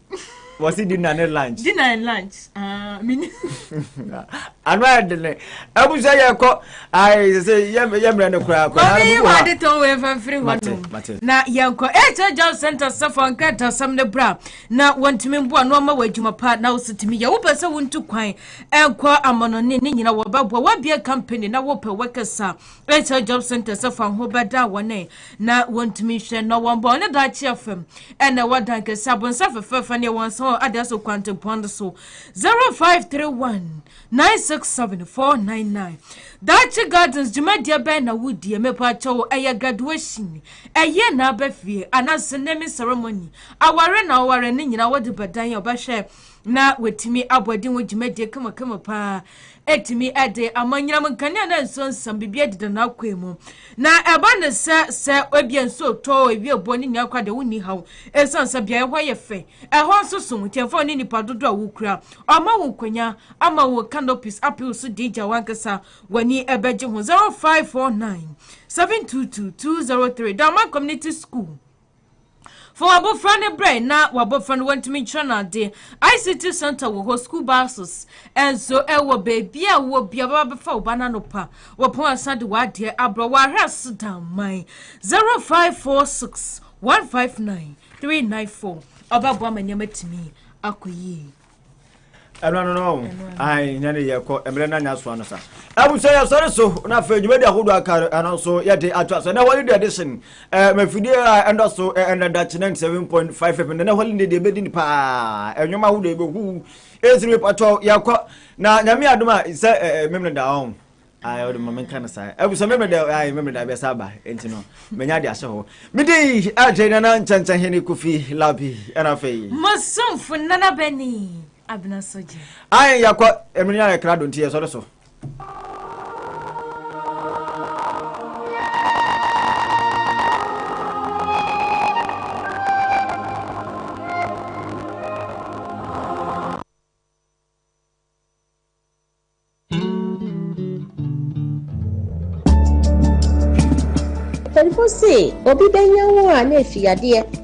wɔsi dinner ne lunch. dinner and lunch ah, ano ayɛ de ne abusua yɛ kɔ ayi sɛ yɛ mmerɛ ne koraa kɔ. maame yi wa de tɔn wei fɛn firi hɔ nom na yɛn kɔ ɛkyɛ job center sɛfɔ nkratasɛm ne bra na wɔntumi mboa na ɔma wɔ adwuma pa na wosi tumi yɛ wopɛ sɛ wontu kwan ɛnkɔ amɔnɔne ne nyina wɔbɛboa wɔabie company na wopɛ workers a Ɛsɛ job centers fa ho bɛda wɔn ɛ na wɔntumi nhwɛ na wɔn bɔ ne daakye afam ɛna ɛwɔ dan kɛse abonsa fɛfɛɛfɛ ne ɛwɔ nsa wɔ adeɛ so kwantempɔn no so 0531 967 499 daakye gardens dwumadie bɛn na wodie mepaakyɛ wo ɛyɛ graduation ɛyɛ na abɛfie anaasɛ naming ceremony aware na aware ne nyinaa wɔde bɛdan a ɔbɛhwɛ na wɔtumi abɔ adi ho dwumadie kamakama paa Etumi de amanyinam nkanea na nsuo nsam biribiara deda n'akwaa mu. Na ɛba no sɛ sɛ ebia nsuo tɔ ewie boɔ no nyinaa kora deɛ wonni haw esiane sɛ beaeɛ hɔ yɛ fɛ. Ɛhɔ nso so, nti ɛmfa wo ne nipa dodoɔ a wokura. Ɔma wo nkɔnya ama wo canopies apɛ wo so di gya w'ankasa w'ani bɛgye ho. 0549 722 203 Dawman Community School. Fa w'abofra no brɛ na w'abofra no wantumi nkyerɛ no ade. ICT Center wɔ hɔ, school buses nso wɔ baabi a wɔ bia bɛba bɛfa wo ba no anɔpa. Wɔpɔn asan de w'adeɛ abrɛ wɔ ahwɛ ase daman 0546 159 394. Ɔbɛboa ma nneɛma atumi akɔ yie. ɛno ano no ae nya ne yɛkɔ mmerɛ no anya soa no sa abusua yɛsɔre so na afei dwumadi ahodoɔ aka no ɛno nso yɛde atoa so ɛnɛ holiday edition mafidie a ɛndɔ so ɛnadakye 97.5 fm ɛnɛ holiday deɛ ɛbɛdi ne paa ɛnwoma ahodoɔ ɛbɛhu ɛsiri mepatɔ yɛkɔ na nyame adom a sɛ memene da ɔn ayi ɔde ma mi nka no saa ebusua mi mi da ayi mi mi da bi ɛsɛ aba nti no mɛ nya de ahyɛ hɔ mi de yi ɛkyɛ nana nkyɛnkyɛn hɛn kofi labi ɛna afɛ yi. masomfo nana bɛni abena sɔgye. ayi yakɔ emiri nya ɛkra do nti yɛ sɔre so. Mpanyimfo se obi bɛnya wo a na afi yadeɛ.